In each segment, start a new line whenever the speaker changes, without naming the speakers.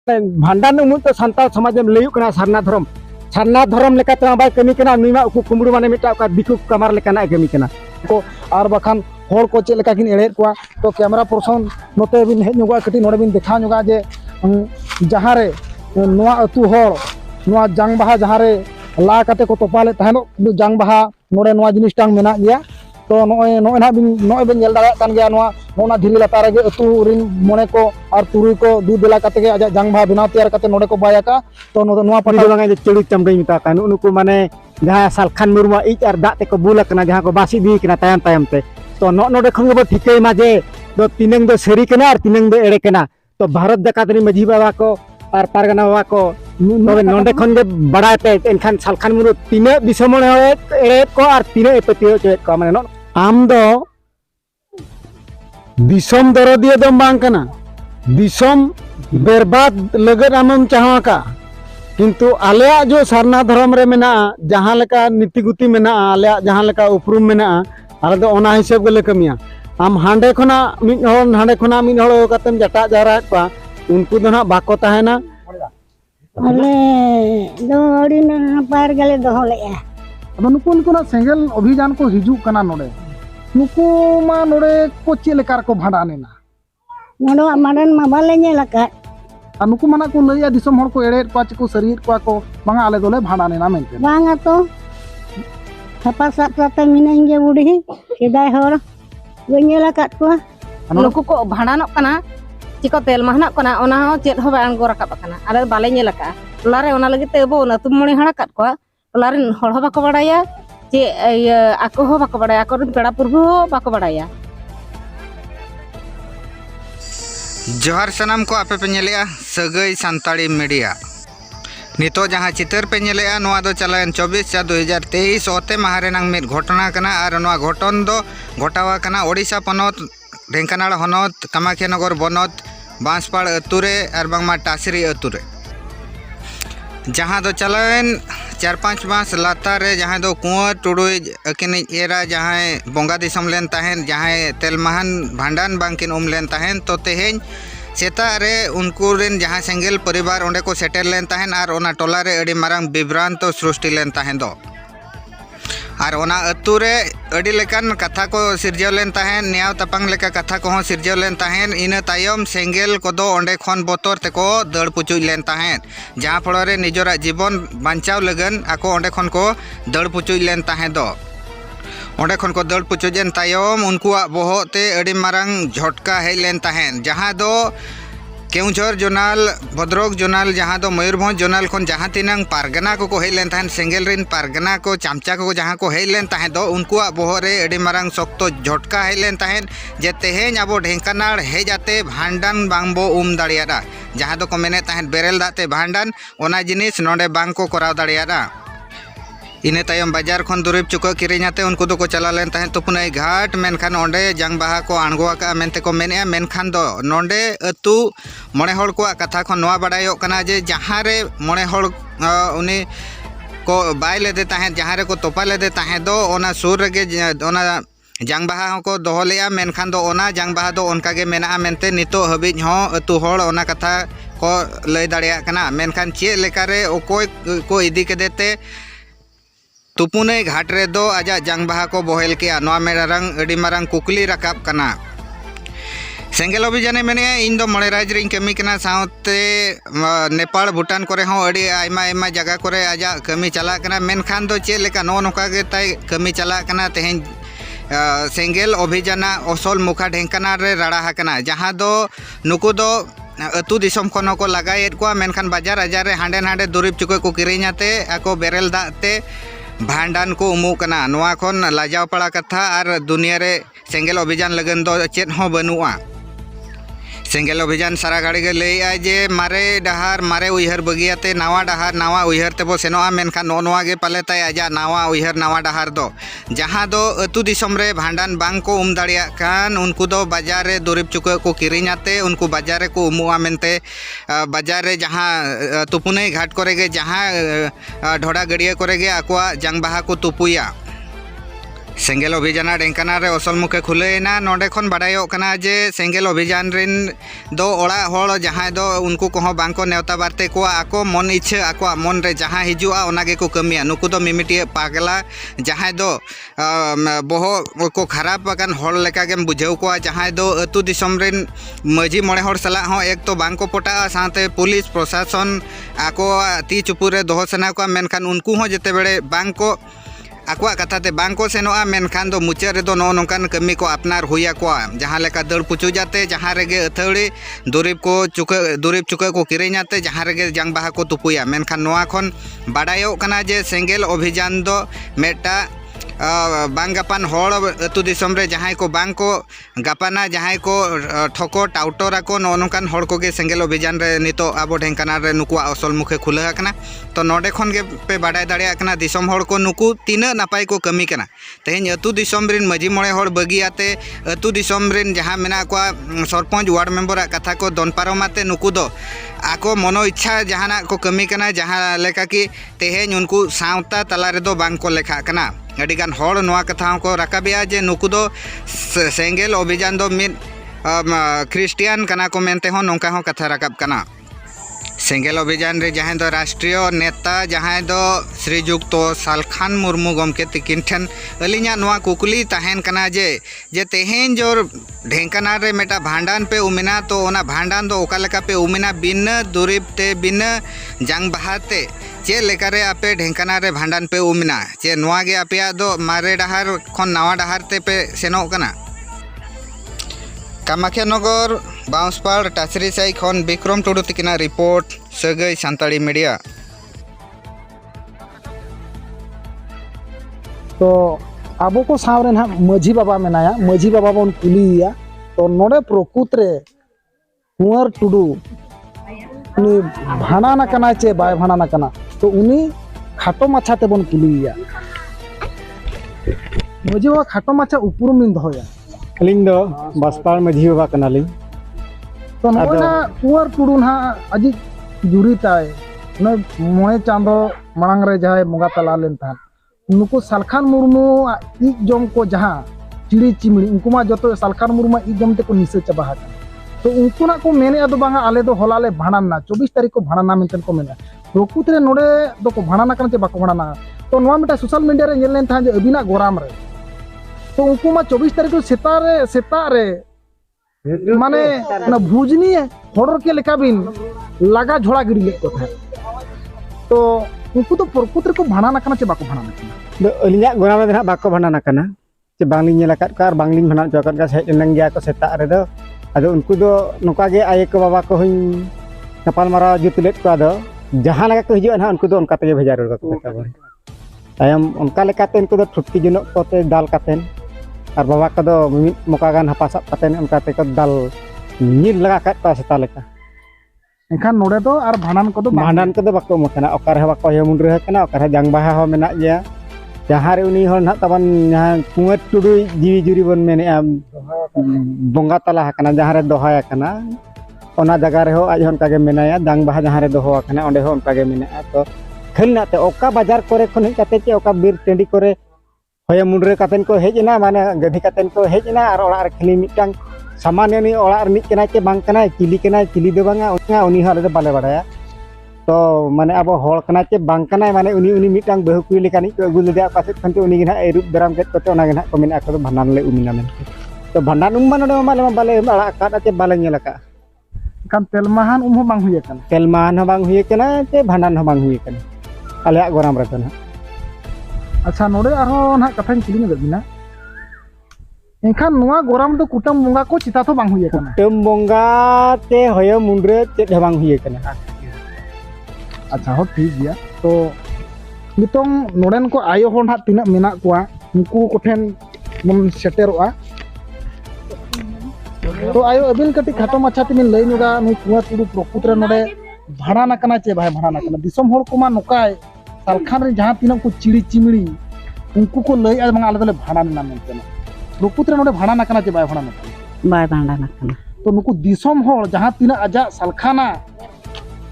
ᱵᱷᱟᱱᱰᱟᱱ ᱩᱢᱩᱞ ᱛᱮ ᱥᱟᱱᱛᱟᱲ ᱥᱚᱢᱟᱡᱽ ᱮᱢ ᱞᱟᱹᱭᱩᱜ ᱠᱟᱱᱟ ᱥᱟᱨᱱᱟ ᱫᱷᱚᱨᱚᱢ ᱥᱟᱨᱱᱟ ᱫᱷᱚᱨᱚᱢ ᱞᱮᱠᱟᱛᱮ ᱵᱟᱭ ᱠᱟᱹᱢᱤ ᱠᱟᱱᱟ ᱱᱩᱭ ᱢᱟ ᱩᱠᱩ ᱠᱩᱢᱲᱩ ᱢᱟᱱᱮ ᱢᱤᱫᱴᱟᱝ ᱚᱠᱟ ᱫᱤᱠᱩ ᱠᱟᱢᱟᱨ ᱞᱮᱠᱟᱱᱟᱜ ᱠᱟᱹᱢᱤ ᱠᱟᱱᱟ ᱠᱚ ᱟᱨ ᱵᱟᱠᱷᱟᱱ ᱦᱚᱲ ᱠᱚ ᱪᱮᱫ ᱞᱮᱠᱟ ᱠᱤᱱ ᱮᱲᱮᱭᱮᱫ ᱠᱚᱣᱟ ᱛᱚ ᱠᱮᱢᱮᱨᱟ ᱯᱚᱨᱥᱚᱱ ᱱᱚᱛᱮ ᱵᱤᱱ ᱦᱮᱡ ᱧᱚᱜᱚᱜᱼᱟ ᱠᱟᱹᱴᱤᱡ ᱱᱚᱰᱮ ᱵᱤᱱ ᱫᱮᱠᱷᱟᱣ ᱧᱚᱜᱟ ᱡᱮ ᱡᱟᱦᱟᱸ ᱨᱮ ᱱᱚᱣᱟ ᱟᱹᱛᱩ ᱦᱚᱲ ᱱᱚᱣᱟ ᱡᱟᱝ ᱵᱟᱦᱟ ᱡᱟᱦᱟᱸ ᱨᱮ ᱞᱟ ᱠᱟᱛᱮ ᱠᱚ ᱛᱚᱯᱟ ᱞᱮᱫ ᱛᱟᱦᱮᱱᱚᱜ ᱡᱟᱝ ᱵᱟᱦᱟ ᱱᱚᱰᱮ ᱱᱚᱣᱟ ᱡᱤᱱᱤᱥᱴᱟᱝ ᱢᱮᱱᱟᱜ ᱜᱮᱭᱟ ᱛᱚ ᱱᱚᱜᱼᱚᱭ ᱱᱚᱜᱼᱚᱭ ᱱᱟᱦᱟᱜ ᱵᱤᱱ ᱱᱚᱜᱼᱚᱭ ᱵᱮᱱ ᱧᱮᱞ ᱫᱟᱲᱮᱭᱟᱜ ᱠᱟᱱ ᱜᱮᱭᱟ ᱱᱚᱣᱟ ᱱᱚᱜᱼᱚᱱᱟ ᱫᱷᱤᱨᱤ ᱞᱟᱛᱟᱨ ᱨᱮᱜᱮ ᱟᱹᱛᱩ ᱨᱤᱱ ᱢᱚᱬᱮ ᱠᱚ ᱟᱨ ᱛᱩᱨᱩᱭ ᱠᱚ ᱫᱩ ᱫᱮᱞᱟ ᱠᱟᱛᱮ ᱜᱮ ᱟᱡᱟᱜ ᱡᱟᱝ ᱵᱟᱦᱟ ᱵᱮᱱᱟᱣ ᱛᱮᱭᱟᱨ ᱠᱟᱛᱮ ᱱᱚᱰᱮ ᱠᱚ ᱵᱟᱭ ᱟᱠᱟᱜᱼᱟ ᱛᱚ ᱱᱚᱣᱟ ᱯᱟᱴᱟ ᱵᱟᱝ ᱫᱚ ᱪᱟᱹᱲᱩ ᱪᱟᱢᱰᱟᱹᱧ ᱢᱮᱛᱟ ᱠᱟᱱ ᱱᱩᱠᱩ ᱢᱟᱱᱮ ᱡᱟᱦᱟᱸ ᱥᱟᱞᱠᱷᱟᱱ ᱢᱩᱨᱢᱩᱣᱟᱜ ᱤᱡ ᱟᱨ ᱫᱟᱜ ᱛᱮᱠᱚ ᱵᱩᱞ ᱟᱠᱟᱱᱟ ᱡᱟᱦᱟᱸ ᱠᱚ ᱵᱟᱥ ᱤᱫᱤ ᱠᱟᱱᱟ ᱛᱟᱭᱚᱢ ᱛᱟᱭᱚᱢ ᱛᱮ ᱛᱚ ᱱᱚᱜᱼᱚ ᱱᱚᱰᱮ ᱠᱷᱚᱱ ᱜᱮᱵᱚ ᱴᱷᱤᱠᱟᱹᱭ ᱢᱟ ᱡᱮ ᱫᱚ ᱛᱤᱱᱟᱹᱝ ᱫᱚ ᱥᱟᱹᱨᱤ ᱠᱟᱱᱟ ᱟᱨ ᱛᱤᱱᱟᱹᱝ ᱫᱚ ᱮᱲᱮ ᱠᱟᱱᱟ ᱛᱚ ᱵᱷᱟᱨᱚᱛ ᱡᱟᱠᱟᱛ ᱨᱮᱱ ᱢᱟᱹᱡᱷᱤ ᱵᱟᱵᱟ ᱠᱚ ᱟᱨ ᱯᱟᱨᱜᱟᱱᱟ ᱵᱟᱵᱟ ᱠᱚ ᱛᱚᱵᱮ ᱱᱚᱰᱮ ᱠᱷᱚᱱ ᱜᱮ ᱵᱟᱲᱟᱭ ᱯᱮ ᱮᱱᱠᱷᱟᱱ ᱥᱟᱞᱠᱷᱟᱱ ᱢᱩᱨᱢᱩ ᱛᱤᱱᱟᱹᱜ ᱫᱤᱥᱚᱢ ᱦᱚᱲ ᱮᱲᱮᱭᱮᱫ ᱠᱚ ᱟᱨ ᱛᱤᱱᱟᱹᱜ ᱮ ᱯᱟᱹᱛᱭᱟᱹᱣ ᱦᱚᱪᱚᱭᱮᱫ ᱠᱚᱣᱟ ᱢᱟᱱᱮ ᱟᱢ ᱫᱚ ᱫᱤᱥᱚᱢ ᱫᱚᱨᱚᱫᱤᱭᱟᱹ ᱫᱚ ᱵᱟᱝ ᱠᱟᱱᱟ ᱫᱤᱥᱚᱢ ᱵᱮᱨᱵᱟᱫ ᱞᱟᱹᱜᱤᱫ ᱟᱢᱮᱢ ᱪᱟᱦᱟᱣ ᱟᱠᱟᱫᱼᱟ ᱠᱤᱱᱛᱩ ᱟᱞᱮᱭᱟᱜ ᱡᱚ ᱥᱟᱨᱱᱟ ᱫᱷᱚᱨᱚᱢ ᱨᱮ ᱢᱮᱱᱟᱜᱼᱟ ᱡᱟᱦᱟᱸ ᱞᱮᱠᱟ ᱱᱤᱛᱤ ᱜᱩᱛᱤ ᱢᱮᱱᱟᱜᱼᱟ ᱟᱞᱮᱭᱟᱜ ᱡᱟᱦᱟᱸ ᱞᱮᱠᱟ ᱩᱯᱨᱩᱢ ᱢᱮᱱᱟᱜᱼᱟ ᱟᱞᱮ ᱫᱚ ᱚᱱᱟ ᱦᱤᱥᱟᱹᱵ ᱜᱮᱞᱮ ᱠᱟᱹᱢᱤᱭᱟ ᱟᱢ ᱦᱟᱸᱰᱮ ᱠᱷᱚᱱᱟᱜ ᱢᱤᱫ ᱦᱚᱲ ᱱᱟᱸᱰᱮ ᱠᱷᱚᱱᱟᱜ ᱢᱤᱫ ᱦᱚᱲ ᱦᱚᱦᱚ ᱠᱟᱛᱮᱢ ᱡᱟᱴᱟᱜ ᱡᱟᱣᱨᱟᱭᱮᱫ ᱠᱚᱣᱟ ᱩᱱᱠᱩ ᱫᱚ ᱱᱟᱦᱟᱜ ᱵᱟᱠᱚ ᱛᱟᱦᱮᱱᱟ ᱟᱞᱮ
ᱫᱚ ᱟᱹᱰᱤ ᱱᱟᱯᱟᱭ ᱨᱮᱜᱮᱞᱮ ᱫᱚᱦᱚ ᱞᱮᱫᱼᱟ ᱟᱫᱚ ᱱᱩᱠᱩ ᱩᱱᱠᱩᱱᱟᱜ
ᱥᱮᱸᱜᱮᱞ ᱚᱵᱷᱤᱡᱟᱱ ᱠᱚ ᱦᱤᱡᱩᱜ ᱠᱟᱱᱟ ᱱᱚᱰᱮ ᱱᱩᱠᱩ ᱢᱟ ᱱᱚᱰᱮ ᱠᱚ ᱪᱮᱫ ᱞᱮᱠᱟ ᱨᱮᱠᱚ ᱵᱷᱟᱸᱰᱟᱱ ᱮᱱᱟ ᱱᱚᱰᱮ
ᱢᱟᱲᱟᱝ ᱢᱟ ᱵᱟᱞᱮ ᱧᱮᱞ ᱟᱠᱟᱫ ᱟᱨ ᱱᱩᱠᱩ ᱢᱟᱱᱟ
ᱠᱚ ᱞᱟᱹᱭᱟ ᱫᱤᱥᱚᱢ ᱦᱚᱲ ᱠᱚ ᱮᱲᱮᱭᱮᱫ ᱠᱚᱣᱟ ᱪᱮᱠᱚ ᱥᱟᱹᱨᱤᱭᱮᱫ ᱠᱚᱣᱟ ᱠᱚ ᱵᱟᱝᱟ ᱟᱞᱮ ᱫᱚᱞᱮ ᱵᱷᱟᱸᱰᱟᱱ ᱮᱱᱟ ᱢᱮᱱᱛᱮ ᱵᱟᱝᱟ ᱛᱚ
ᱦᱟᱯᱟ ᱥᱟᱵ ᱠᱟᱛᱮ ᱢᱤᱱᱟᱹᱧ ᱜᱮ ᱵᱩᱰᱷᱤ ᱥᱮᱫᱟᱭ ᱦᱚᱲ ᱵᱟᱹᱧ ᱧᱮᱞ ᱟᱠᱟᱫ ᱠᱚᱣᱟ ᱱᱩᱠᱩ ᱠᱚ
ᱵᱷᱟᱸᱰᱟᱱᱚᱜ ᱠᱟᱱᱟ ᱪᱮᱠᱚ ᱛᱮᱞ ᱢᱟᱦᱱᱟᱜ ᱠᱟᱱᱟ ᱚᱱᱟ ᱦᱚᱸ ᱪᱮᱫ ᱦᱚᱸ ᱵᱟᱝ ᱟᱬᱜᱚ ᱨᱟᱠᱟᱵ ᱟᱠᱟᱱᱟ ᱟᱞᱮ ᱵᱟᱞᱮ ᱧᱮᱞ ᱟᱠᱟᱫᱼᱟ ᱴᱚᱞᱟ ᱨᱮ ᱚᱱᱟ ᱞᱟᱹᱜᱤᱫ ᱛᱮ ᱟᱵᱚ ᱟᱹᱛᱩ ᱢᱚᱬᱮ ᱦᱚᱲ ᱟᱠᱟᱫ ᱠᱚᱣᱟ ᱴᱚᱞᱟ ᱨᱮᱱ ᱦᱚᱲ ᱦᱚᱸ ᱵᱟᱠᱚ ᱵᱟᱲᱟᱭᱟ ᱪᱮ ᱤᱭᱟᱹ ᱟᱠᱚ ᱦᱚᱸ ᱵᱟᱠᱚ ᱵᱟᱲᱟᱭᱟ ᱟᱠᱚ ᱨᱮᱱ ᱯᱮᱲᱟ ᱯᱩᱨᱵᱷᱩ ᱦᱚᱸ ᱵᱟᱠᱚ ᱵᱟᱲᱟᱭᱟ
ᱡᱚᱦᱟᱨ ᱥᱟᱱᱟᱢ ᱠᱚ ᱟᱯᱮ ᱯᱮ ᱧᱮᱞᱮᱜᱼᱟ ᱥᱟᱹᱜᱟᱹᱭ ᱥᱟᱱᱛᱟᱲᱤ ᱢᱤᱰᱤᱭᱟ ᱱᱤᱛᱚᱜ ᱡᱟᱦᱟᱸ ᱪᱤᱛᱟᱹᱨ ᱯᱮ ᱧᱮᱞᱮᱜᱼᱟ ᱱᱚᱣᱟ ᱫᱚ ᱪᱟᱞᱟᱣᱮᱱ ᱪᱚᱵᱵᱤᱥ ᱪᱟᱨ ᱫᱩ ᱦᱟᱡᱟᱨ ᱛᱮᱭᱤᱥ ᱚᱛᱮ ᱢᱟᱦᱟ ᱨᱮᱱᱟᱝ ᱢᱤᱫ ᱜᱷᱚᱴᱚᱱᱟ ᱠᱟᱱᱟ ᱟᱨ ᱱᱚᱣᱟ ᱜᱷᱚᱴᱚᱱ ᱫᱚ ᱜᱷᱚᱴᱟᱣ ᱟᱠᱟᱱᱟ ᱳᱰᱤᱥᱟ ᱯᱚᱱᱚᱛ ᱰᱷᱮᱝᱠᱟᱱᱟᱲ ᱦᱚᱱᱚᱛ ᱠᱟᱢᱟᱠᱷᱤᱭᱟ ᱱᱚᱜᱚᱨ ᱵᱚᱱᱚᱛ ᱵᱟᱸᱥᱯᱟᱲ ᱟᱹᱛᱩ ᱨᱮ ᱟᱨ ᱵᱟᱝᱢᱟ ᱴᱟᱥᱨᱤ ᱟᱹᱛᱩ ᱨᱮ ᱡᱟᱦᱟᱸ ᱫᱚ ᱪᱟᱞᱟᱣᱮᱱ ᱪᱟᱨ ᱯᱟᱸᱪ ᱢᱟᱥ ᱞᱟᱛᱟᱨ ᱨᱮ ᱡᱟᱦᱟᱸᱭ ᱫᱚ ᱠᱩᱸᱣᱟᱨ ᱴᱩᱰᱩᱭ ᱟᱹᱠᱤᱱᱤᱡ ᱮᱨᱟ ᱡᱟᱦᱟᱸᱭ ᱵᱚᱸᱜᱟ ᱫᱤᱥᱚᱢ ᱞᱮᱱ ᱛᱟᱦᱮᱸᱫ ᱡᱟᱦᱟᱸᱭ ᱛᱮᱞᱢᱟᱦᱟᱱ ᱵᱷᱟᱸᱰᱟᱱ ᱵᱟᱝᱠᱤᱱ ᱩᱢ ᱞᱮᱱ ᱛᱟᱦᱮᱸᱫ ᱛᱚ ᱛᱮᱦᱮᱧ ᱥᱮᱛᱟᱜ ᱨᱮ ᱩᱱᱠᱩ ᱨᱮᱱ ᱡᱟᱦᱟᱸ ᱥᱮᱸᱜᱮᱞ ᱯᱚᱨᱤᱵᱟᱨ ᱚᱸᱰᱮ ᱠᱚ ᱥᱮᱴᱮᱨ ᱞᱮᱱ ᱛᱟᱦᱮᱸᱫ ᱟᱨ ᱚᱱᱟ ᱴᱚᱞᱟ ᱨᱮ ᱟᱹᱰᱤ ᱢᱟᱨᱟᱝ ᱵᱤᱵᱷᱨᱟᱱᱛᱚ ᱥᱨᱤᱥᱴᱤ ᱞᱮᱱ ᱛᱟᱦᱮᱸ ᱫᱚᱜ ᱟᱨ ᱚᱱᱟ ᱟᱹᱛᱩ ᱨᱮ ᱟᱹᱰᱤ ᱞᱮᱠᱟᱱ ᱠᱟᱛᱷᱟ ᱠᱚ ᱥᱤᱨᱡᱟᱹᱣ ᱞᱮᱱ ᱛᱟᱦᱮᱸᱫ ᱱᱮᱭᱟᱣ ᱛᱟᱯᱟᱢ ᱞᱮᱠᱟ ᱠᱟᱛᱷᱟ ᱠᱚᱦᱚᱸ ᱥᱤᱨᱡᱟᱹᱣ ᱞᱮᱱ ᱛᱟᱦᱮᱸᱫ ᱤᱱᱟᱹ ᱛᱟᱭᱚᱢ ᱥᱮᱸᱜᱮᱞ ᱠᱚᱫᱚ ᱚᱸᱰᱮ ᱠᱷᱚᱱ ᱵᱚᱛᱚᱨ ᱛᱮᱠᱚ ᱫᱟᱹᱲ ᱯᱩᱪᱩᱡ ᱞᱮᱱ ᱛᱟᱦᱮᱸᱫ ᱡᱟᱦᱟᱸ ᱯᱷᱚᱲᱚ ᱨᱮ ᱱᱤᱡᱚᱨᱟᱜ ᱡᱤᱵᱚᱱ ᱵᱟᱧᱪᱟᱣ ᱞᱟᱹᱜᱤᱫ ᱟᱠᱚ ᱚᱸᱰᱮ ᱠᱷᱚᱱ ᱠᱚ ᱫᱟᱹᱲ ᱯᱩᱪᱩᱡ ᱞᱮᱱ ᱛᱟᱦᱮᱸᱫ ᱫᱚ ᱚᱸᱰᱮ ᱠᱷᱚᱱ ᱠᱚ ᱫᱟᱹᱲ ᱯᱩᱪᱩᱡ ᱮᱱ ᱛᱟᱭᱚᱢ ᱩᱱᱠᱩᱣᱟᱜ ᱵᱚᱦᱚᱜ ᱛᱮ ᱟᱹᱰᱤ ᱢᱟᱨᱟᱝ ᱡᱷᱚᱴᱠᱟ ᱦᱮᱡ ᱞᱮᱱ ᱛᱟᱦᱮᱸᱫ ᱡᱟᱦᱟᱸ ᱫᱚ ᱠᱮᱣᱡᱷᱚᱨ ᱡᱚᱱᱟᱞ ᱵᱷᱚᱫᱨᱚᱠ ᱡᱚᱱᱟᱞ ᱡᱟᱦᱟᱸ ᱫᱚ ᱢᱚᱭᱩᱨᱵᱷᱚᱸᱡᱽ ᱡᱚᱱᱟᱞ ᱠᱷᱚᱱ ᱡᱟᱦᱟᱸ ᱛᱤᱱᱟᱹᱝ ᱯᱟᱨᱜᱟᱱᱟ ᱠᱚᱠᱚ ᱦᱮᱡ ᱞᱮᱱ ᱛᱟᱦᱮᱸᱫ ᱥᱮᱸᱜᱮᱞ ᱨᱮᱱ ᱯᱟᱨᱜᱟᱱᱟ ᱠᱚ ᱪᱟᱢᱪᱟ ᱠᱚ ᱡᱟᱦᱟᱸ ᱠᱚ ᱦᱮᱡ ᱞᱮᱱ ᱛᱟᱦᱮᱸᱫ ᱫᱚ ᱩᱱᱠᱩᱣᱟᱜ ᱵᱚᱦᱚᱜ ᱨᱮ ᱟᱹᱰᱤ ᱢᱟᱨᱟᱝ ᱥᱚᱠᱛᱚ ᱡᱷᱚᱴᱠᱟ ᱦᱮᱡ ᱞᱮᱱ ᱛᱟᱦᱮᱸᱫ ᱡᱮ ᱛᱮᱦᱮᱧ ᱟᱵᱚ ᱰᱷᱮᱝᱠᱟᱱᱟᱲ ᱦᱮᱡ ᱟᱛᱮ ᱵᱷᱟᱸᱰᱟᱱ ᱵᱟᱝ ᱵᱚ ᱩᱢ ᱫᱟᱲᱮᱭᱟᱫᱟ ᱡᱟᱦᱟᱸ ᱫᱚᱠᱚ ᱢᱮᱱᱮᱫ ᱛᱟᱦᱮᱸᱫ ᱵᱮᱨᱮᱞ ᱫᱟᱜ ᱛᱮ ᱵᱷᱟᱸᱰᱟᱱ ᱚᱱᱟ ᱡᱤᱱᱤᱥ ᱱᱚᱰᱮ ᱵᱟᱝ ᱠᱚ ᱠᱚᱨᱟᱣ ᱫᱟᱲᱮᱭᱟᱫᱟ ᱤᱱᱟᱹ ᱛᱟᱭᱚᱢ ᱵᱟᱡᱟᱨ ᱠᱷᱚᱱ ᱫᱩᱨᱤᱵ ᱪᱩᱠᱟᱹᱜ ᱠᱤᱨᱤᱧ ᱟᱛᱮ ᱩᱱᱠᱩ ᱫᱚᱠᱚ ᱪᱟᱞᱟᱣ ᱞᱮᱱ ᱛᱟᱦᱮᱸᱫ ᱛᱩᱯᱩᱱᱟᱹᱭ ᱜᱷᱟᱴ ᱢᱮᱱᱠᱷᱟᱱ ᱚᱸᱰᱮ ᱡᱟᱝ ᱵᱟᱦᱟ ᱠᱚ ᱟᱬᱜᱚ ᱟᱠᱟᱫᱼᱟ ᱢᱮᱱᱛᱮ ᱠᱚ ᱢᱮᱱᱮᱫᱼᱟ ᱢᱮᱱᱠᱷᱟᱱ ᱫᱚ ᱱᱚᱸᱰᱮ ᱟᱹᱛᱩ ᱢᱚᱬᱮ ᱦᱚᱲ ᱠᱚᱣᱟᱜ ᱠᱟᱛᱷᱟ ᱠᱷᱚᱱ ᱱᱚᱣᱟ ᱵᱟᱰᱟᱭᱚᱜ ᱠᱟᱱᱟ ᱡᱮ ᱡᱟᱦᱟᱸ ᱨᱮ ᱢᱚᱬᱮ ᱦᱚᱲ ᱩᱱᱤ ᱠᱚ ᱵᱟᱭ ᱞᱮᱫᱮ ᱛᱟᱦᱮᱸᱫ ᱡᱟᱦᱟᱸ ᱨᱮᱠᱚ ᱛᱚᱯᱟ ᱞᱮᱫᱮ ᱛᱟᱦᱮᱸ ᱫᱚ ᱚᱱᱟ ᱥᱩᱨ ᱨᱮᱜᱮ ᱚᱱᱟ ᱡᱟᱝ ᱵᱟᱦᱟ ᱦᱚᱸᱠᱚ ᱫᱚᱦᱚ ᱞᱮᱫᱼᱟ ᱢᱮᱱᱠᱷᱟᱱ ᱫᱚ ᱚᱱᱟ ᱡᱟᱝ ᱵᱟᱦᱟ ᱫᱚ ᱚᱱᱠᱟ ᱜᱮ ᱢᱮᱱᱟᱜᱼᱟ ᱢᱮᱱᱛᱮ ᱱᱤᱛᱚᱜ ᱦᱟᱹᱵᱤᱡ ᱦᱚᱸ ᱟᱛᱳ ᱦᱚᱲ ᱚᱱᱟ ᱠᱟᱛᱷᱟ ᱠᱚ ᱞᱟᱹᱭ ᱫᱟᱲᱮᱭᱟᱜ ᱠᱟᱱᱟ ᱢᱮᱱᱠᱷᱟᱱ ᱪᱮᱫ ᱞᱮᱠᱟᱨᱮ ᱚᱠᱚᱭ ᱠᱚ ᱤᱫᱤ ᱠᱮᱫᱮ ᱛᱮ ᱛᱩᱯᱩᱱᱟᱹᱭ ᱜᱷᱟᱴ ᱨᱮᱫᱚ ᱟᱡᱟᱜ ᱡᱟᱝ ᱵᱟᱦᱟ ᱠᱚ ᱵᱚᱦᱮᱞ ᱠᱮᱫᱼᱟ ᱱᱚᱣᱟ ᱢᱮᱨᱟᱝ ᱟᱹᱰᱤ ᱢᱟᱨᱟᱝ ᱠᱩᱠᱞᱤ ᱨᱟᱠᱟᱵ ᱠᱟᱱᱟ ᱥᱮᱸᱜᱮᱞ ᱚᱵᱷᱤᱡᱟᱱᱮ ᱢᱮᱱᱮᱫᱼᱟ ᱤᱧ ᱫᱚ ᱢᱚᱬᱮ ᱨᱟᱡᱽ ᱨᱤᱧ ᱠᱟᱹᱢᱤ ᱠᱟᱱᱟ ᱥᱟᱶᱛᱮ ᱱᱮᱯᱟᱞ ᱵᱷᱩᱴᱟᱱ ᱠᱚᱨᱮ ᱦᱚᱸ ᱟᱹᱰᱤ ᱟᱭᱢᱟ ᱟᱭᱢᱟ ᱡᱟᱭᱜᱟ ᱠᱚᱨᱮ ᱟᱡᱟᱜ ᱠᱟᱹᱢᱤ ᱪᱟᱞᱟᱜ ᱠᱟᱱᱟ ᱢᱮᱱᱠᱷᱟᱱ ᱫᱚ ᱪᱮᱫ ᱞᱮᱠᱟ ᱱᱚᱜᱼᱚ ᱱᱚᱝᱠᱟ ᱜᱮ ᱛᱟᱭ ᱠᱟᱹᱢᱤ ᱪᱟᱞᱟᱜ ᱠᱟᱱᱟ ᱛᱮᱦᱮᱧ ᱥᱮᱸᱜᱮᱞ ᱚᱵᱷᱤᱡᱟᱱᱟᱜ ᱚᱥᱚᱞ ᱢᱩᱠᱷᱟ ᱰᱷᱮᱝᱠᱟᱱᱟᱞ ᱨᱮ ᱨᱟᱲᱟ ᱟᱠᱟᱱᱟ ᱡᱟᱦᱟᱸ ᱫᱚ ᱱᱩᱠᱩ ᱫᱚ ᱟᱹᱛᱩ ᱫᱤᱥᱚᱢ ᱠᱷᱚᱱ ᱦᱚᱸᱠᱚ ᱞᱟᱜᱟᱭᱮᱫ ᱠᱚᱣᱟ ᱢᱮᱱᱠᱷᱟᱱ ᱵᱟᱡᱟᱨ ᱟᱡᱟᱨ ᱨᱮ ᱦᱟᱸᱰᱮ ᱱᱟᱸᱰᱮ ᱫᱩᱨᱤᱵᱽ ᱪᱩᱠᱟᱹ ᱠᱚ ᱠᱤᱨᱤᱧ ᱟᱛᱮ ᱟᱠᱚ ᱵᱮᱨᱮᱞ ᱫᱟᱜ ᱛᱮ ᱵᱷᱟᱸᱰᱟᱱ ᱠᱚ ᱩᱢᱩᱜ ᱠᱟᱱᱟ ᱱᱚᱣᱟ ᱠᱷᱚᱱ ᱞᱟᱡᱟᱣ ᱯᱟᱲᱟ ᱠᱟᱛᱷᱟ ᱟᱨ ᱫᱩᱱᱤᱭᱟᱹ ᱨᱮ ᱥᱮᱸᱜᱮᱞ ᱚᱵᱷᱤᱡᱟᱱ ᱞᱟᱹᱜᱤᱫ ᱫᱚ ᱪᱮᱫ ᱦᱚᱸ ᱵᱟᱹᱱᱩᱜᱼᱟ ᱥᱮᱸᱜᱮᱞ ᱚᱵᱷᱤᱡᱟᱱ ᱥᱟᱨᱟ ᱜᱷᱟᱹᱲᱤ ᱜᱮ ᱞᱟᱹᱭᱮᱫᱼᱟᱭ ᱡᱮ ᱢᱟᱨᱮ ᱰᱟᱦᱟᱨ ᱢᱟᱨᱮ ᱩᱭᱦᱟᱹᱨ ᱵᱟᱹᱜᱤᱭᱟᱛᱮ ᱱᱟᱣᱟ ᱰᱟᱦᱟᱨ ᱱᱟᱣᱟ ᱩᱭᱦᱟᱹᱨ ᱛᱮᱵᱚ ᱥᱮᱱᱚᱜᱼᱟ ᱢᱮᱱᱠᱷᱟᱱ ᱱᱚᱜᱼᱚ ᱱᱚᱣᱟ ᱜᱮ ᱯᱟᱞᱮ ᱛᱟᱭ ᱟᱡᱟᱜ ᱱᱟᱣᱟ ᱩᱭᱦᱟᱹᱨ ᱱᱟᱣᱟ ᱰᱟᱦᱟᱨ ᱫᱚ ᱡᱟᱦᱟᱸ ᱫᱚ ᱟᱹᱛᱩ ᱫᱤᱥᱚᱢ ᱨᱮ ᱵᱷᱟᱸᱰᱟᱱ ᱵᱟᱝ ᱠᱚ ᱩᱢ ᱫᱟᱲᱮᱭᱟᱜ ᱠᱟᱱ ᱩᱱᱠᱩ ᱫᱚ ᱵᱟᱡᱟᱨ ᱨᱮ ᱫᱩᱨᱤᱵᱽ ᱪᱩᱠᱟᱹᱜ ᱠᱚ ᱠᱤᱨᱤᱧ ᱟᱛᱮ ᱩᱱᱠᱩ ᱵᱟᱡᱟᱨ ᱨᱮᱠᱚ ᱩᱢᱩᱜᱼᱟ ᱢᱮᱱᱛᱮ ᱵᱟᱡᱟᱨ ᱨᱮ ᱡᱟᱦᱟᱸ ᱛᱩᱯᱩᱱᱟᱹᱭ ᱜᱷᱟᱴ ᱠᱚᱨᱮ ᱜᱮ ᱡᱟᱦᱟᱸ ᱰᱷᱚᱰᱟ ᱜᱟᱹᱰᱭᱟᱹ ᱠᱚᱨᱮ ᱜᱮ ᱟᱠᱚᱣᱟᱜ ᱡᱟᱝ ᱵᱟᱦᱟ ᱠᱚ ᱛᱩᱯᱩᱭᱟ ᱥᱮᱸᱜᱮᱞ ᱚᱵᱷᱤᱡᱟᱱ ᱰᱮᱝᱠᱟᱱᱟ ᱨᱮ ᱚᱥᱚᱞ ᱢᱩᱠᱷᱮ ᱠᱷᱩᱞᱟᱹᱭᱮᱱᱟ ᱱᱚᱰᱮ ᱠᱷᱚᱱ ᱵᱟᱰᱟᱭᱚᱜ ᱠᱟᱱᱟ ᱡᱮ ᱥᱮᱸᱜᱮᱞ ᱚᱵᱷᱤᱡᱟᱱ ᱨᱮᱱ ᱫᱚ ᱚᱲᱟᱜ ᱦᱚᱲ ᱡᱟᱦᱟᱸᱭ ᱫᱚ ᱩᱱᱠᱩ ᱠᱚᱦᱚᱸ ᱵᱟᱝ ᱠᱚ ᱱᱮᱣᱛᱟ ᱵᱟᱨᱛᱮ ᱠᱚᱣᱟ ᱟᱠᱚ ᱢᱚᱱ ᱤᱪᱪᱷᱟᱹ ᱟᱠᱚᱣᱟᱜ ᱢᱚᱱ ᱨᱮ ᱡᱟᱦᱟᱸ ᱦᱤᱡᱩᱜᱼᱟ ᱚᱱᱟ ᱜᱮᱠᱚ ᱠᱟᱹᱢᱤᱭᱟ ᱱᱩᱠᱩ ᱫᱚ ᱢᱤᱢᱤᱫᱴᱤᱡ ᱯᱟᱜᱽᱞᱟ ᱡᱟᱦᱟᱸᱭ ᱫᱚ ᱵᱚᱦᱚᱜ ᱠᱚ ᱠᱷᱟᱨᱟᱯ ᱟᱠᱟᱱ ᱦᱚᱲ ᱞᱮᱠᱟ ᱜᱮᱢ ᱵᱩᱡᱷᱟᱹᱣ ᱠᱚᱣᱟ ᱡᱟᱦᱟᱸᱭ ᱫᱚ ᱟᱹᱛᱩ ᱫᱤᱥᱚᱢ ᱨᱮᱱ ᱢᱟᱹᱡᱷᱤ ᱢᱚᱬᱮ ᱦᱚᱲ ᱥᱟᱞᱟᱜ ᱦᱚᱸ ᱮᱠ ᱛᱚ ᱵᱟᱝ ᱠᱚ ᱯᱚᱴᱟᱜᱼᱟ ᱥᱟᱶᱛᱮ ᱯᱩᱞᱤᱥ ᱯᱨᱚᱥᱟᱥᱚᱱ ᱟᱠᱚᱣᱟᱜ ᱛᱤ ᱪᱩᱯᱩᱫ ᱨᱮ ᱫᱚᱦᱚ ᱥᱟᱱᱟ ᱠᱚᱣᱟ ᱢᱮᱱᱠᱷᱟᱱ ᱩᱱᱠᱩ ᱦᱚᱸ ᱡᱮᱛᱮ ᱵᱟᱲᱮ ᱵᱟᱝ ᱠᱚ ᱟᱠᱚᱣᱟᱜ ᱠᱟᱛᱷᱟ ᱛᱮ ᱵᱟᱝ ᱠᱚ ᱥᱮᱱᱚᱜᱼᱟ ᱢᱮᱱᱠᱷᱟᱱ ᱫᱚ ᱢᱩᱪᱟᱹᱫ ᱨᱮᱫᱚ ᱱᱚᱜᱼᱚ ᱱᱚᱝᱠᱟᱱ ᱠᱟᱹᱢᱤ ᱠᱚ ᱟᱯᱱᱟᱨ ᱦᱩᱭ ᱟᱠᱚᱣᱟ ᱡᱟᱦᱟᱸ ᱞᱮᱠᱟ ᱫᱟᱹᱲ ᱯᱩᱪᱩᱡ ᱟᱛᱮ ᱡᱟᱦᱟᱸ ᱨᱮᱜᱮ ᱟᱹᱛᱷᱟᱹᱣᱲᱤ ᱫᱩᱨᱤᱵᱽ ᱠᱚ ᱪᱩᱠᱟᱹᱜ ᱫᱩᱨᱤᱵᱽ ᱪᱩᱠᱟᱹᱜ ᱠᱚ ᱠᱤᱨᱤᱧ ᱟᱛᱮ ᱡᱟᱦᱟᱸ ᱨᱮᱜᱮ ᱡᱟᱝ ᱵᱟᱦᱟ ᱠᱚ ᱛᱩᱯᱩᱭᱟ ᱢᱮᱱᱠᱷᱟᱱ ᱱᱚᱣᱟ ᱠᱷᱚᱱ ᱵᱟᱰᱟᱭᱚᱜ ᱠᱟᱱᱟ ᱡᱮ ᱥᱮᱸᱜᱮᱞ ᱚᱵᱷᱤᱡᱟᱱ ᱫᱚ ᱢᱤᱫᱴᱟᱝ ᱵᱟᱝ ᱜᱟᱯᱟᱱ ᱦᱚᱲ ᱟᱹᱛᱩ ᱫᱤᱥᱚᱢ ᱨᱮ ᱡᱟᱦᱟᱸᱭ ᱠᱚ ᱵᱟᱝ ᱠᱚ ᱜᱟᱯᱟᱱᱟ ᱡᱟᱦᱟᱸᱭ ᱠᱚ ᱴᱷᱚᱠᱚ ᱴᱟᱣᱴᱚᱨ ᱟᱠᱚ ᱱᱚᱜᱼᱚ ᱱᱚᱝᱠᱟᱱ ᱦᱚᱲ ᱠᱚᱜᱮ ᱥᱮᱸᱜᱮᱞ ᱚᱵᱷᱤᱡᱟᱱ ᱨᱮ ᱱᱤᱛᱚᱜ ᱟᱵᱚ ᱰᱷᱮᱝᱠᱟᱱᱟᱞ ᱨᱮ ᱱᱩᱠᱩᱣᱟᱜ ᱚᱥᱚᱞ ᱢᱩᱠᱷᱮ ᱠᱷᱩᱞᱟᱹ ᱟᱠᱟᱱᱟ ᱛᱚ ᱱᱚᱰᱮ ᱠᱷᱚᱱ ᱜᱮ ᱯᱮ ᱵᱟᱰᱟᱭ ᱫᱟᱲᱮᱭᱟᱜ ᱠᱟᱱᱟ ᱫᱤᱥᱚᱢ ᱦᱚᱲ ᱠᱚ ᱱᱩᱠᱩ ᱛᱤᱱᱟᱹᱜ ᱱᱟᱯᱟᱭ ᱠᱚ ᱠᱟᱹᱢᱤ ᱠᱟᱱᱟ ᱛᱮᱦᱮᱧ ᱟᱹᱛᱩ ᱫᱤᱥᱚᱢ ᱨᱮᱱ ᱢᱟᱹᱡᱷᱤ ᱢᱚᱬᱮ ᱦᱚᱲ ᱵᱟᱹᱜᱤ ᱟᱛᱮ ᱟᱹᱛᱩ ᱫᱤᱥᱚᱢ ᱨᱮᱱ ᱡᱟᱦᱟᱸ ᱢᱮᱱᱟᱜ ᱠᱚᱣᱟ ᱥᱚᱨᱯᱚᱧᱡᱽ ᱣᱟᱨᱰ ᱢᱮᱢᱵᱚᱨᱟᱜ ᱠᱟᱛᱷᱟ ᱠᱚ ᱫᱚᱱ ᱯᱟᱨᱚᱢ ᱟᱛᱮ ᱱᱩᱠᱩ ᱫᱚ ᱟᱠᱚ ᱢᱚᱱᱚ ᱤᱪᱪᱷᱟ ᱡᱟᱦᱟᱱᱟᱜ ᱠᱚ ᱠᱟᱹᱢᱤ ᱠᱟᱱᱟ ᱡᱟᱦᱟᱸ ᱞᱮᱠᱟ ᱠᱤ ᱛᱮᱦᱮᱧ ᱩᱱᱠᱩ ᱥᱟᱶᱛᱟ ᱛᱟᱞᱟ ᱨᱮᱫᱚ ᱵᱟᱝ ᱠᱚ ᱞᱮᱠᱷᱟᱜ ᱠᱟᱱᱟ ᱟᱹᱰᱤᱜᱟᱱ ᱦᱚᱲ ᱱᱚᱣᱟ ᱠᱟᱛᱷᱟ ᱦᱚᱸᱠᱚ ᱨᱟᱠᱟᱵᱮᱜᱼᱟ ᱡᱮ ᱱᱩᱠᱩ ᱫᱚ ᱥᱮᱸᱜᱮᱞ ᱚᱵᱷᱤᱡᱟᱱ ᱫᱚ ᱢᱤᱫ ᱠᱷᱨᱤᱥᱴᱤᱭᱟᱱ ᱠᱟᱱᱟ ᱠᱚ ᱢᱮᱱᱛᱮ ᱦᱚᱸ ᱱᱚᱝᱠᱟ ᱦᱚᱸ ᱠᱟᱛᱷᱟ ᱨᱟᱠᱟᱵ ᱠᱟᱱᱟ ᱥᱮᱸᱜᱮᱞ ᱚᱵᱷᱤᱡᱟᱱ ᱨᱮ ᱡᱟᱦᱟᱸᱭ ᱫᱚ ᱨᱟᱥᱴᱨᱤᱭᱚ ᱱᱮᱛᱟ ᱡᱟᱦᱟᱸᱭ ᱫᱚ ᱥᱨᱤᱡᱩᱠᱛᱚ ᱥᱟᱞᱠᱷᱟᱱ ᱢᱩᱨᱢᱩ ᱜᱚᱢᱠᱮ ᱛᱤᱠᱤᱱ ᱴᱷᱮᱱ ᱟᱹᱞᱤᱧᱟᱜ ᱱᱚᱣᱟ ᱠᱩᱠᱞᱤ ᱛᱟᱦᱮᱱ ᱠᱟᱱᱟ ᱡᱮ ᱡᱮ ᱛᱮᱦᱮᱧ ᱡᱚᱨ ᱰᱷᱮᱝᱠᱟᱱᱟᱲ ᱨᱮ ᱢᱮᱴᱟ ᱵᱷᱟᱸᱰᱟᱱ ᱯᱮ ᱩᱢᱮᱱᱟ ᱛᱚ ᱚᱱᱟ ᱵᱷᱟᱸᱰᱟᱱ ᱫᱚ ᱚᱠᱟ ᱞᱮᱠᱟ ᱯᱮ ᱩᱢᱮᱱᱟ ᱵᱤᱱᱟᱹ ᱫᱩᱨᱤᱵ ᱛᱮ ᱵᱤᱱᱟᱹ ᱡᱟᱝ ᱵᱟᱦᱟ ᱛᱮ ᱪᱮᱫ ᱞᱮᱠᱟ ᱨᱮ ᱟᱯᱮ ᱰᱷᱮᱝᱠᱟᱱᱟᱲ ᱨᱮ ᱵᱷᱟᱸᱰᱟᱱ ᱯᱮ ᱩᱢᱮᱱᱟ ᱪᱮ ᱱᱚᱣᱟ ᱜᱮ ᱟᱯᱮᱭᱟᱜ ᱫᱚ ᱢᱟᱨᱮ ᱰᱟᱦᱟᱨ ᱠᱷᱚᱱ ᱱᱟᱣᱟ ᱰᱟᱦᱟᱨ ᱛᱮ ᱯᱮ ᱥᱮᱱᱚᱜ ᱠᱟᱱᱟ ᱠᱟᱢᱟᱠᱷᱭᱟ ᱱᱚᱜᱚᱨ ᱵᱟᱸᱥᱯᱟᱲ ᱴᱟᱪᱨᱤ ᱥᱟᱭ ᱠᱷᱚᱱ ᱵᱤᱠᱨᱚᱢ ᱴᱩᱰᱩ ᱛᱤᱠᱤᱱᱟᱜ ᱨᱤᱯᱳᱨᱴ ᱥᱟᱹᱜᱟᱹᱭ ᱥᱟᱱᱛᱟᱲᱤ ᱢᱤᱰᱤᱭᱟ
ᱛᱚ ᱟᱵᱚ ᱠᱚ ᱥᱟᱶ ᱨᱮ ᱱᱟᱦᱟᱜ ᱢᱟᱹᱡᱷᱤ ᱵᱟᱵᱟ ᱢᱮᱱᱟᱭᱟ ᱢᱟᱹᱡᱷᱤ ᱵᱟᱵᱟ ᱵᱚᱱ ᱠᱩᱞᱤᱭᱮᱭᱟ ᱛᱚ ᱱᱚᱰᱮ ᱯᱨᱚᱠᱩᱛ ᱨᱮ ᱠᱩᱸᱣᱟᱨ ᱴᱩᱰᱩ ᱩᱱᱤ ᱵᱷᱟᱸᱰᱟᱱ ᱟᱠᱟᱱᱟᱭ ᱪᱮ ᱵᱟᱭ ᱵᱷᱟᱸᱰᱟᱱ ᱟᱠᱟᱱᱟ ᱛᱚ ᱩᱱᱤ ᱠᱷᱟᱴᱚ ᱢᱟᱪᱷᱟ ᱛᱮᱵᱚᱱ ᱠᱩᱞᱤᱭᱮᱭᱟ ᱢᱟᱹᱡᱷᱤ ᱵᱟᱵᱟ ᱠᱷᱟᱴᱚ ᱢᱟᱪᱷᱟ ᱩᱯᱨᱩᱢ ᱞᱤᱧ ᱫᱚᱦᱚᱭᱟ ᱟᱹᱞᱤᱧ ᱫᱚ
ᱵᱟᱥᱯᱟᱲ ᱢᱟᱹᱡᱷᱤ ᱵᱟᱵᱟ ᱠᱟᱱᱟᱞᱤᱧ ᱛᱚ
ᱱᱚᱜᱼᱚᱭ ᱱᱟ ᱠᱩᱸᱣᱟᱨ ᱴᱩᱰᱩ ᱱᱟᱦᱟᱜ ᱟᱡᱤᱡ ᱡᱩᱨᱤ ᱛᱟᱭ ᱱᱚᱜᱼᱚᱭ ᱢᱚᱬᱮ ᱪᱟᱸᱫᱚ ᱢᱟᱲᱟᱝ ᱨᱮ ᱡᱟᱦᱟᱸᱭ ᱵᱚᱸᱜᱟ ᱛᱟᱞᱟ ᱞᱮᱱ ᱛᱟᱦᱮᱸᱫ ᱱᱩᱠᱩ ᱥᱟᱞᱠᱷᱟᱱ ᱢᱩᱨᱢᱩ ᱤᱡ ᱡᱚᱢ ᱠᱚ ᱡᱟᱦᱟᱸ ᱪᱤᱲᱤ ᱪᱤᱢᱲᱤ ᱩᱱᱠᱩ ᱢᱟ ᱡᱚᱛᱚ ᱥᱟᱞᱠᱷᱟᱱ ᱢᱩᱨᱢᱩ ᱤᱡ ᱡᱚᱢ ᱛᱮᱠᱚ ᱱᱤᱥᱟᱹ ᱪᱟᱵᱟ ᱟᱠᱟᱱᱟ ᱛᱚ ᱩᱱᱠᱩ ᱱᱟᱜ ᱠᱚ ᱢᱮᱱᱮᱫᱼᱟ ᱫᱚ ᱵᱟᱝᱟ ᱟᱞᱮ ᱫᱚ ᱦᱚᱞᱟ ᱞᱮ ᱵᱷᱟᱸᱰᱟᱱ ᱮᱱᱟ ᱪᱚᱵᱵᱤᱥ ᱛᱟᱹᱨᱤᱠᱷ ᱠᱚ ᱵᱷᱟᱸᱰᱟᱱᱟ ᱢᱮᱱᱛᱮ ᱠᱚ ᱢᱮᱱᱮᱫᱼᱟ ᱯᱨᱚᱠᱩᱛ ᱨᱮ ᱱᱚᱰᱮ ᱫᱚ ᱠᱚ ᱵᱷᱟᱸᱰᱟᱱ ᱟᱠᱟᱱᱟ ᱪᱮ ᱵᱟᱠᱚ ᱵᱷᱟᱸᱰᱟᱱᱟ ᱛᱚ ᱱᱚᱣᱟ ᱢᱤᱫᱴᱟᱝ ᱥᱳᱥᱟᱞ ᱢᱤᱰᱤᱭᱟ ᱨᱮ ᱧᱮᱞ ᱞᱮᱱ ᱛᱟᱦᱮᱸᱫ ᱡᱮ ᱟᱹᱵᱤᱱᱟᱜ ᱜᱚᱨᱟᱢ ᱨᱮ ᱛᱚ ᱩᱱᱠᱩ ᱢᱟ ᱪᱚᱵᱵᱤᱥ ᱛᱟᱹᱨᱤᱠᱷ ᱨᱮ ᱥᱮᱛᱟᱜ ᱨᱮ ᱥᱮᱛᱟᱜ ᱨᱮ ᱢᱟᱱᱮ ᱚᱱᱟ ᱵᱷᱩᱡᱽᱱᱤ ᱦᱚᱲ ᱨᱮ ᱞᱮᱠᱟ ᱵᱤᱱ ᱞᱟᱜᱟ ᱡᱷᱚᱲᱟ ᱜᱤᱰᱤ ᱞᱮᱫ ᱠᱚ ᱛᱟᱦᱮᱸᱫ ᱛᱚ ᱩᱱᱠᱩ ᱫᱚ ᱯᱨᱚᱠᱩᱛ ᱨᱮᱠᱚ ᱵᱷᱟᱸᱰᱟᱱ ᱟᱠᱟᱱᱟ ᱪᱮ ᱵᱟᱠᱚ ᱵᱷᱟᱸᱰᱟᱱ ᱟᱠᱟᱱᱟ ᱟᱹᱞᱤᱧᱟᱜ ᱜᱚᱨᱟᱢ ᱨᱮ ᱫᱚ ᱦᱟᱸᱜ
ᱵᱟᱠᱚ ᱵᱷᱟᱸᱰᱟᱱ ᱟᱠᱟᱱᱟ ᱥᱮ ᱵᱟᱝᱞᱤᱧ ᱧᱮᱞ ᱟᱠᱟᱫ ᱠᱚᱣᱟ ᱟᱨ ᱵᱟᱝᱞᱤᱧ ᱢᱟᱱᱟᱣ ᱦᱚᱪᱚ ᱟᱠᱟᱫ ᱠᱚᱣᱟ ᱦᱮᱡ ᱞᱮᱱ ᱜᱮᱭᱟ ᱠᱚ ᱥᱮᱛᱟᱜ ᱨᱮᱫᱚ ᱟᱫᱚ ᱩᱱᱠᱩ ᱫᱚ ᱱᱚᱝᱠᱟ ᱜᱮ ᱟᱭᱳ ᱠᱚ ᱵᱟᱵᱟ ᱠᱚ ᱦᱚᱧ ᱜᱟᱯᱟᱞᱢᱟᱨᱟᱣ ᱡᱩᱛ ᱞᱮᱫ ᱠᱚᱣᱟ ᱟᱫᱚ ᱡᱟᱦᱟᱸ ᱞᱮᱠᱟ ᱠᱚ ᱦᱤᱡᱩᱜᱼᱟ ᱱᱟᱦᱟᱜ ᱩᱱᱠᱩ ᱫᱚ ᱚᱱᱠᱟ ᱛᱮᱜᱮ ᱵᱷᱮᱡᱟ ᱨᱩᱣᱟᱹᱲ ᱠᱟᱠᱚ ᱛᱟᱵᱚᱱ ᱛᱟᱭᱚᱢ ᱚᱱᱠᱟ ᱞᱮᱠᱟᱛᱮ ᱩᱱᱠᱩ ᱫᱚ ᱴᱷᱩᱴᱠᱤ ᱡᱚᱱᱚᱜ ᱠᱚᱛᱮ ᱫᱟᱞ ᱠᱟᱛᱮᱱ ᱟᱨ ᱵᱟᱵᱟ ᱠᱚᱫᱚ ᱢᱤᱫ ᱢᱚᱠᱟ ᱜᱟᱱ ᱦᱟᱯᱟ ᱥᱟᱵ ᱠᱟᱛᱮᱱ ᱚᱱᱠᱟ ᱛᱮᱠᱚ ᱫᱟᱞ ᱧᱤᱨ ᱞᱟᱜᱟ ᱠᱟᱜ ᱠᱚᱣᱟ ᱥᱮᱛᱟ ᱞᱮᱠᱟ ᱮᱱᱠᱷᱟᱱ
ᱱᱚᱰᱮ ᱫᱚ ᱟᱨ ᱵᱷᱟᱸᱰᱟᱱ ᱠᱚᱫᱚ ᱵᱟᱝ ᱵᱷᱟᱸᱰᱟᱱ ᱠᱚᱫᱚ ᱵᱟᱠᱚ ᱮᱢᱚᱜ ᱠᱟᱱᱟ ᱚᱠᱟ ᱨᱮᱦᱚᱸ
ᱵᱟᱠᱚ ᱦᱮ ᱢᱩᱱᱰᱨᱟᱹ ᱟᱠᱟᱱᱟ ᱚᱠᱟ ᱨᱮᱦᱚᱸ ᱡᱟᱝ ᱵᱟᱦᱟ ᱦᱚᱸ ᱢᱮᱱᱟᱜ ᱜᱮᱭᱟ ᱡᱟᱦᱟᱸ ᱨᱮ ᱩᱱᱤ ᱦᱚᱲ ᱱᱟᱦᱟᱜ ᱛᱟᱵᱚᱱ ᱡᱟᱦᱟᱸ ᱠᱩᱸᱣᱟᱹᱨ ᱴᱩᱰᱩ ᱡᱤᱣᱤ ᱡᱩᱨᱤ ᱵᱚᱱ ᱢᱮᱱᱮᱜᱼᱟ ᱵᱚᱸᱜᱟ ᱛᱟᱞᱟ ᱟᱠᱟᱱᱟ ᱡᱟᱦᱟᱸ ᱨᱮ ᱫᱚᱦᱟᱭ ᱟᱠᱟᱱᱟ ᱚᱱᱟ ᱡᱟᱭᱜᱟ ᱨᱮᱦᱚᱸ ᱟᱡ ᱦᱚᱸ ᱚᱱᱠᱟᱜᱮ ᱢᱮᱱᱟᱭᱟ ᱡᱟᱝ ᱵᱟᱦᱟ ᱡᱟᱦᱟᱸ ᱨᱮ ᱫᱚᱦᱚ ᱟᱠᱟᱱᱟ ᱚᱸᱰᱮ ᱦᱚᱸ ᱚᱱᱠᱟᱜᱮ ᱢᱮᱱᱟᱜᱼᱟ ᱛᱚ ᱠᱷᱟᱹᱞᱤ ᱱᱟᱛᱮ ᱚᱠᱟ ᱵᱟᱡᱟᱨ ᱠᱚᱨᱮ ᱠᱷᱚᱱ ᱦᱮᱡ ᱠᱟᱛᱮ ᱪᱮ ᱚᱠᱟ ᱵᱤᱨ ᱴᱟᱺᱰᱤ ᱠᱚᱨᱮ ᱦᱚᱭᱮ ᱢᱩᱰᱨᱟᱹ ᱠᱟᱛᱮᱱ ᱠᱚ ᱦᱮᱡ ᱮᱱᱟ ᱢᱟᱱᱮ ᱜᱟᱹᱫᱷᱤ ᱠᱟᱛᱮᱱ ᱠᱚ ᱦᱮᱡ ᱮᱱᱟ ᱟᱨ ᱚᱲᱟᱜ ᱨᱮ ᱠᱷᱟᱹᱞᱤ ᱢᱤᱫᱴᱟᱝ ᱥᱟᱢᱟᱱᱭᱚ ᱩᱱᱤ ᱚᱲᱟᱜ ᱨᱤᱱᱤᱡ ᱠᱟᱱᱟᱭ ᱪᱮ ᱵᱟᱝ ᱠᱟᱱᱟᱭ ᱪᱤᱞᱤ ᱠᱟᱱᱟᱭ ᱪᱤᱞᱤ ᱫᱚ ᱵᱟᱝᱟ ᱩᱱᱤ ᱦᱚᱸ ᱟᱞᱮ ᱫᱚ ᱵᱟᱞᱮ ᱵᱟᱲᱟᱭᱟ ᱛᱚ ᱢᱟᱱᱮ ᱟᱵᱚ ᱦᱚᱲ ᱠᱟᱱᱟᱭ ᱪᱮ ᱵᱟᱝ ᱠᱟᱱᱟᱭ ᱢᱟᱱᱮ ᱩᱱᱤ ᱩᱱᱤ ᱢᱤᱫᱴᱟᱝ ᱵᱟᱹᱦᱩ ᱠᱩᱲᱤ ᱞᱮᱠᱟᱱᱤᱡ ᱠᱚ ᱟᱹᱜᱩ ᱞᱮᱫᱮᱭᱟ ᱚᱠᱟ ᱥᱮᱫ ᱠᱷᱚᱱ ᱪᱚ ᱩᱱᱤ ᱜᱮ ᱱᱟᱦᱟᱜ ᱮᱨᱩᱯ ᱫᱟᱨᱟᱢ ᱠᱮᱫ ᱠᱚᱛᱮ ᱚᱱᱟ ᱜᱮ ᱱᱟᱦᱟᱜ ᱠᱚ ᱢᱮᱱᱟ ᱟᱠᱚ ᱫᱚ ᱵᱷᱟᱸᱰᱟᱱ ᱞᱮ ᱩᱢ ᱮᱱᱟ ᱢᱮᱱᱛᱮ ᱛᱚ ᱵᱷᱟᱸᱰᱟᱱ ᱩᱢ ᱢᱟ ᱱᱚᱰᱮ ᱢᱟ ᱟᱞᱮ ᱢᱟ ᱵᱟᱞᱮ ᱟᱲᱟᱜ ᱟᱠᱟᱫ ᱪᱮ ᱵᱟᱞᱮ ᱧᱮᱞ ᱟᱠᱟᱫᱼᱟ ᱮᱱᱠᱷᱟᱱ
ᱛᱮᱞᱢᱟᱦᱟᱱ ᱩᱢ ᱦᱚᱸ ᱵᱟᱝ ᱦᱩᱭ ᱟᱠᱟᱱᱟ ᱛᱮᱞᱢᱟᱦᱟᱱ ᱦᱚᱸ ᱵᱟᱝ ᱦᱩᱭ ᱟᱠᱟᱱᱟ
ᱥᱮ ᱵᱷᱟᱸᱰᱟᱱ ᱦᱚᱸ ᱵᱟᱝ ᱦᱩᱭ ᱟᱠᱟᱱᱟ ᱟᱞᱮᱭᱟᱜ ᱜᱚᱨᱟᱢ ᱨᱮᱫᱚ ᱱᱟᱦᱟᱜ
ᱟᱪᱪᱷᱟ ᱱᱚᱰᱮ ᱟᱨᱦᱚᱸ ᱱᱟᱦᱟᱜ ᱠᱟᱛᱷᱟᱧ ᱠᱩᱞᱤ ᱧᱚᱜᱮᱫ ᱵᱤᱱᱟ ᱮᱱᱠᱷᱟᱱ ᱱᱚᱣᱟ ᱜᱚᱨᱟᱢ ᱫᱚ ᱠᱩᱴᱟᱹᱢ ᱵᱚᱸᱜᱟ ᱠᱚ ᱪᱮᱛᱟ ᱛᱚ ᱵᱟᱝ ᱦᱩᱭ ᱟᱠᱟᱱᱟ ᱠᱩᱴᱟᱹᱢ ᱵᱚᱸᱜᱟ
ᱛᱮ ᱦᱚᱭᱚ ᱢᱩᱱᱰᱨᱟᱹ ᱪᱮᱫ ᱦᱚᱸ ᱵᱟᱝ ᱦᱩᱭ ᱟᱠᱟᱱᱟ
ᱟᱪᱪᱷᱟ ᱦᱚᱸ ᱴᱷᱤᱠ ᱜᱮᱭᱟ ᱛᱚ ᱱᱤᱛᱚᱝ ᱱᱚᱰᱮᱱ ᱠᱚ ᱟᱭᱳ ᱦᱚᱲ ᱱᱟᱦᱟᱜ ᱛᱤᱱᱟᱹᱜ ᱢᱮᱱᱟᱜ ᱠᱚᱣᱟ ᱩᱱᱠᱩ ᱠᱚᱴᱷᱮᱱ ᱵᱚᱱ ᱥᱮᱴᱮᱨᱚᱜᱼᱟ ᱛᱚ ᱟᱭᱳ ᱟᱹᱵᱤᱱ ᱠᱟᱹᱴᱤᱡ ᱠᱷᱟᱴᱚ ᱢᱟᱪᱷᱟ ᱛᱮᱵᱤᱱ ᱞᱟᱹᱭ ᱧᱚᱜᱟ ᱱᱩᱭ ᱠᱩᱣᱟᱹ ᱴᱩᱰᱩ ᱯᱨᱚᱠᱩᱛ ᱨᱮ ᱱᱚᱰᱮ ᱵᱷᱟᱲᱟᱱ ᱟᱠᱟᱱᱟ ᱪᱮ ᱵᱟᱭ ᱵᱷᱟᱲᱟᱱ ᱟᱠᱟᱱᱟ ᱫᱤᱥᱚᱢ ᱦᱚᱲ ᱠᱚᱢᱟ ᱱᱚᱠᱟᱭ ᱥᱟᱞᱠᱷᱟᱱ ᱨᱮ ᱡᱟᱦᱟᱸ ᱛᱤᱱᱟᱹᱜ ᱠᱚ ᱪᱤᱲᱤ ᱪᱤᱢᱲᱤ ᱩᱱᱠᱩ ᱠᱚ ᱞᱟᱹᱭ ᱟᱫ ᱵᱟᱝ ᱟᱞᱮ ᱫᱚᱞᱮ ᱵᱷᱟᱲᱟᱱ ᱮᱱᱟ ᱢᱮᱱᱛᱮ ᱯᱨᱚᱠᱩᱛ ᱨᱮ ᱱᱚᱰᱮ ᱵᱷᱟᱲᱟᱱ ᱟᱠᱟᱱᱟ ᱪᱮ ᱵᱟᱭ ᱵᱷᱟᱲᱟᱱ ᱟᱠᱟᱱᱟ ᱵᱟᱭ ᱵᱷᱟᱲᱟᱱ ᱟᱠᱟᱱᱟ ᱛᱚ
ᱱᱩᱠᱩ ᱫᱤᱥᱚᱢ
ᱦᱚᱲ ᱡᱟᱦᱟᱸ ᱛᱤᱱᱟᱹᱜ ᱟᱡᱟᱜ ᱥᱟᱞᱠᱷᱟᱱᱟ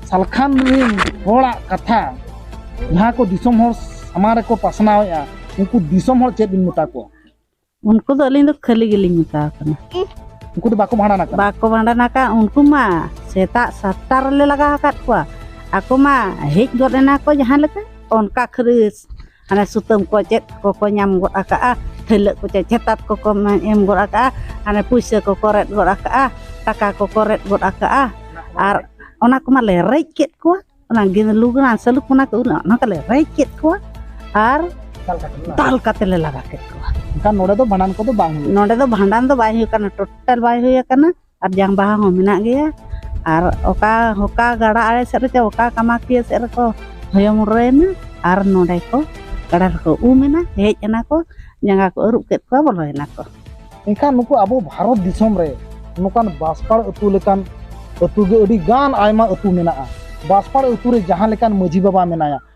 ᱥᱟᱞᱠᱷᱟᱱ ᱨᱤᱱ ᱦᱚᱲᱟᱜ ᱠᱟᱛᱷᱟ ᱡᱟᱦᱟᱸ ᱠᱚ ᱫᱤᱥᱚᱢ ᱦᱚᱲ ᱥᱟᱢᱟᱝ ᱨᱮᱠᱚ ᱯᱟᱥᱱᱟᱣᱮᱫᱼᱟ ᱩᱱᱠᱩ ᱫᱤᱥᱚᱢ ᱦᱚᱲ ᱪᱮᱫ ᱵᱤᱱ ᱢᱮᱛᱟ ᱠᱚᱣᱟ ᱩᱱᱠᱩ ᱫᱚ
ᱟᱹᱞᱤᱧ ᱫᱚ ᱠᱷᱟᱹᱞᱤ ᱜᱮᱞᱤᱧ ᱢᱮᱛᱟ ᱠᱟᱱᱟ ᱩᱱᱠᱩ ᱫᱚ ᱵᱟᱠᱚ
ᱵᱷᱟᱸᱰᱟᱱ ᱟᱠᱟᱱᱟ ᱵᱟᱠᱚ ᱵᱷᱟᱸᱰᱟᱱ ᱟᱠᱟᱫ ᱩᱱᱠᱩ
ᱢᱟ ᱥᱮᱛᱟᱜ ᱥᱟᱛᱴᱟ ᱨᱮᱞᱮ ᱞᱟᱜᱟᱣ ᱟᱠᱟᱫ ᱠᱚᱣᱟ ᱟᱠᱚ ᱢᱟ ᱦᱮᱡ ᱜᱚᱫ ᱮᱱᱟ ᱠᱚ ᱡᱟᱦᱟᱸ ᱞᱮᱠᱟ ᱚᱱᱠᱟ ᱠᱷᱟᱹᱞᱤ ᱦᱟᱱᱮ ᱥᱩᱛᱟᱹᱢ ᱠᱚ ᱪᱮᱫ ᱠᱚᱠᱚ ᱧᱟᱢ ᱜᱚᱫ ᱟᱠᱟᱜᱼᱟ ᱛᱷᱟᱹᱭᱞᱟᱹᱜ ᱠᱚ ᱪᱮᱫ ᱪᱷᱮᱛᱟᱛ ᱠᱚᱠᱚ ᱮᱢ ᱜᱚᱫ ᱟᱠᱟᱜᱼᱟ ᱦᱟᱱᱮ ᱯᱩᱭᱥᱟᱹ ᱠᱚᱠᱚ ᱨᱮᱫ ᱜᱚᱫ ᱟᱠᱟᱜᱼᱟ ᱴᱟᱠᱟ ᱠᱚᱠᱚ ᱨᱮᱫ ᱜᱚᱫ ᱟᱠᱟᱜᱼᱟ ᱟᱨ ᱚᱱᱟ ᱠᱚᱢᱟᱞᱮ ᱨᱮᱡ ᱠᱮᱫ ᱠᱚᱣᱟ ᱚᱱᱟ ᱞᱩᱜᱽᱱᱟ ᱥᱟᱹᱞᱩᱠ ᱚᱱᱟ ᱠᱚ ᱚᱱᱟ ᱠᱚᱞᱮ ᱨᱮᱡ ᱠᱮᱫ ᱠᱚᱣᱟ ᱟᱨ ᱫᱟᱞ ᱠᱟᱛᱮ ᱞᱮ ᱞᱟᱜᱟ ᱠᱮᱫ ᱠᱚᱣᱟ ᱮᱱᱠᱷᱟᱱ ᱱᱚᱰᱮ ᱫᱚ ᱵᱷᱟᱸᱰᱟᱱ
ᱠᱚᱫᱚ ᱵᱟᱝ ᱦᱩᱭᱩᱜᱼᱟ ᱱᱚᱰᱮ ᱫᱚ ᱵᱷᱟᱸᱰᱟᱱ ᱫᱚ
ᱵᱟᱭ ᱦᱩᱭ ᱟᱠᱟᱱᱟ ᱴᱳᱴᱟᱞ ᱵᱟᱭ ᱦᱩᱭ ᱟᱠᱟᱱᱟ ᱟᱨ ᱡᱟᱝ ᱵᱟᱦᱟ ᱦᱚᱸ ᱢᱮᱱᱟᱜ ᱜᱮᱭᱟ ᱟᱨ ᱚᱠᱟ ᱦᱚᱠᱟ ᱜᱟᱰᱟ ᱟᱲᱮ ᱥᱮᱫ ᱨᱮᱪᱚ ᱚᱠᱟ ᱠᱟᱢᱟᱠᱤᱭᱟᱹ ᱥᱮᱫ ᱨᱮᱠᱚ ᱦᱚᱭᱚ ᱢᱩᱰᱨᱟᱹᱭᱮᱱᱟ ᱟᱨ ᱱᱚᱰᱮ ᱠᱚ ᱜᱟᱰᱟ ᱨᱮᱠᱚ ᱩᱢ ᱮᱱᱟ ᱦᱮᱡ ᱮᱱᱟ ᱠᱚ ᱡᱟᱸᱜᱟ ᱠᱚ ᱟᱹᱨᱩᱵ ᱠᱮᱫ ᱠᱚᱣᱟ ᱵᱚᱞᱚᱭᱮᱱᱟ ᱠᱚ ᱮᱱᱠᱷᱟᱱ ᱱᱩᱠᱩ
ᱟᱵᱚ ᱵᱷᱟᱨᱚᱛ ᱫᱤᱥᱚᱢ ᱨᱮ ᱱᱚᱝᱠᱟᱱ ᱵᱟᱥᱯᱟᱲ ᱟᱹᱛᱩ ᱞᱮᱠᱟᱱ ᱟᱹᱛᱩ ᱜᱮ ᱟᱹᱰᱤ ᱜᱟᱱ ᱟᱭᱢᱟ ᱟᱹᱛᱩ ᱢᱮᱱᱟᱜᱼᱟ ᱵᱟᱥᱯᱟᱲ ᱟᱹᱛᱩ ᱨᱮ ᱡᱟᱦᱟᱸ ᱞᱮᱠᱟᱱ ᱢᱟᱹᱡᱷᱤ ᱵᱟᱵᱟ ᱢᱮᱱᱟᱭᱟ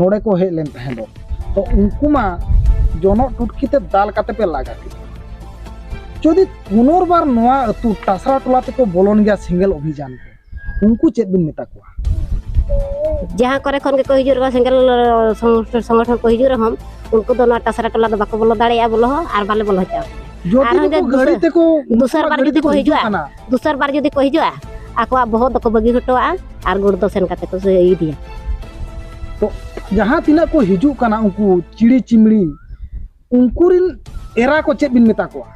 ᱱᱚᱰᱮ ᱠᱚ ᱦᱮᱡ ᱞᱮᱱ ᱛᱟᱦᱮᱸ ᱫᱚ ᱛᱚ ᱩᱱᱠᱩ ᱢᱟ ᱡᱚᱱᱚᱜ ᱴᱩᱴᱠᱤ ᱛᱮ ᱫᱟᱞ ᱠᱟᱛᱮ ᱯᱮ ᱞᱟᱜᱟ ᱠᱮᱫ ᱡᱩᱫᱤ ᱯᱩᱱᱚᱨᱵᱟᱨ ᱱᱚᱣᱟ ᱟᱹᱛᱩ ᱴᱟᱥᱨᱟ ᱴᱚᱞᱟ ᱛᱮᱠᱚ ᱵᱚᱞᱚᱱ ᱜᱮᱭᱟ ᱥᱮᱸᱜᱮᱞ ᱚᱵᱷᱤᱡᱟᱱ ᱛᱮ ᱩᱱᱠᱩ ᱪᱮᱫ ᱵᱤᱱ ᱢᱮᱛᱟ ᱠᱚᱣᱟ
ᱡᱟᱦᱟᱸ ᱠᱚᱨᱮ ᱠᱷᱚᱱ ᱜᱮᱠᱚ ᱦᱤᱡᱩᱜ ᱨᱮᱦᱚᱸ ᱥᱮᱸᱜᱮᱞ ᱥᱚᱝᱜᱚᱴᱷᱚᱱ ᱠᱚ ᱦᱤᱡᱩᱜ ᱨᱮᱦᱚᱸ ᱩᱱᱠᱩ ᱫᱚ ᱱᱚᱣᱟ ᱴᱟᱥᱨᱟ ᱴᱚᱞᱟ ᱫᱚ ᱵᱟᱠᱚ ᱵᱚᱞᱚ ᱫᱟᱲᱮᱭᱟᱜᱼᱟ ᱵᱚᱞᱚ ᱦᱚᱸ ᱟᱨ ᱵᱟᱞᱮ ᱵᱚᱞᱚ ᱦᱚᱪᱚᱣᱟᱠᱚᱣᱟ ᱟᱨᱦᱚᱸ
ᱫᱚᱥᱟᱨ ᱵᱟᱨ ᱡᱩᱫᱤ ᱠᱚ
ᱦᱤᱡᱩᱜᱼᱟ ᱫᱩᱥᱟᱨ ᱵᱟᱨ ᱡᱩᱫᱤ ᱠᱚ ᱦᱤᱡᱩᱜᱼᱟ ᱟᱠᱚᱣᱟᱜ ᱵᱚᱦᱚᱜ ᱫᱚᱠᱚ ᱵᱟᱹᱜᱤ ᱦᱚᱴᱚᱣᱟᱜᱼᱟ ᱟᱨ ᱜᱩᱲ ᱫᱚ ᱥᱮᱱ ᱠᱟᱛᱮ ᱠᱚ ᱤᱫᱤᱭᱟ ᱛᱚ
ᱡᱟᱦᱟᱸ ᱛᱤᱱᱟᱹᱜ ᱠᱚ ᱦᱤᱡᱩᱜ ᱠᱟᱱᱟ ᱩᱱᱠᱩ ᱪᱤᱲᱤ ᱪᱤᱢᱲᱤ ᱩᱱᱠᱩ ᱨᱤᱱ ᱮᱨᱟ ᱠᱚ ᱪᱮᱫ ᱵᱤᱱ ᱢᱮᱛᱟ ᱠᱚᱣᱟ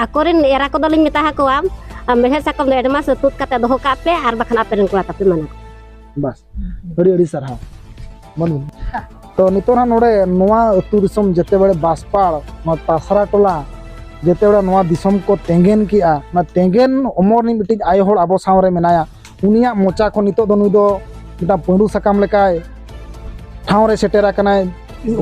ᱟᱠᱚᱨᱮᱱ
ᱮᱨᱟ ᱠᱚᱫᱚ ᱞᱤᱧ ᱢᱮᱛᱟ ᱠᱚᱣᱟ ᱢᱮᱲᱦᱮᱫ ᱥᱟᱠᱟᱢ ᱫᱚ ᱮᱰᱢᱟᱥ ᱛᱩᱫ ᱠᱟᱛᱮ ᱫᱚᱦᱚ ᱠᱟᱜ ᱯᱮ ᱟᱨ ᱵᱟᱠᱷᱟᱱ ᱟᱯᱮ ᱨᱮᱱ ᱠᱚᱲᱟ ᱛᱟᱯᱮ ᱢᱟᱱᱟ ᱵᱟᱥ
ᱟᱹᱰᱤ ᱟᱹᱰᱤ ᱥᱟᱨᱦᱟᱣ ᱢᱟᱹᱱᱢᱤ ᱛᱚ ᱱᱤᱛᱚᱜ ᱦᱟᱸᱜ ᱱᱚᱰᱮ ᱱᱚᱣᱟ ᱟᱹᱛᱩ ᱫᱤᱥᱚᱢ ᱡᱮᱛᱮ ᱵᱟᱲᱮ ᱵᱟᱥᱯᱟᱲ ᱱᱚᱣᱟ ᱛᱟᱥᱨᱟ ᱴᱚᱞᱟ ᱡᱮᱛᱮ ᱵᱟᱲᱮ ᱱᱚᱣᱟ ᱫᱤᱥᱚᱢ ᱠᱚ ᱛᱮᱸᱜᱮᱱ ᱠᱮᱜᱼᱟ ᱚᱱᱟ ᱛᱮᱸᱜᱮᱱ ᱚᱢᱚᱨ ᱨᱤᱱᱤᱡ ᱢᱤᱫᱴᱤᱡ ᱟᱭᱳ ᱦᱚᱲ ᱟᱵᱚ ᱥᱟᱶ ᱨᱮ ᱢᱮᱱᱟᱭᱟ ᱩᱱᱤᱭᱟᱜ ᱢᱚᱪᱟ ᱠᱷᱚᱱ ᱱᱤᱛᱚᱜ ᱫᱚ ᱱᱩᱭ ᱫᱚ ᱢᱤᱫᱴᱟᱝ ᱯᱟᱺᱰᱩ ᱥᱟᱠᱟᱢ ᱞᱮᱠᱟᱭ ᱴᱷᱟᱶ ᱨᱮ ᱥᱮᱴᱮᱨ ᱟᱠᱟᱱᱟᱭ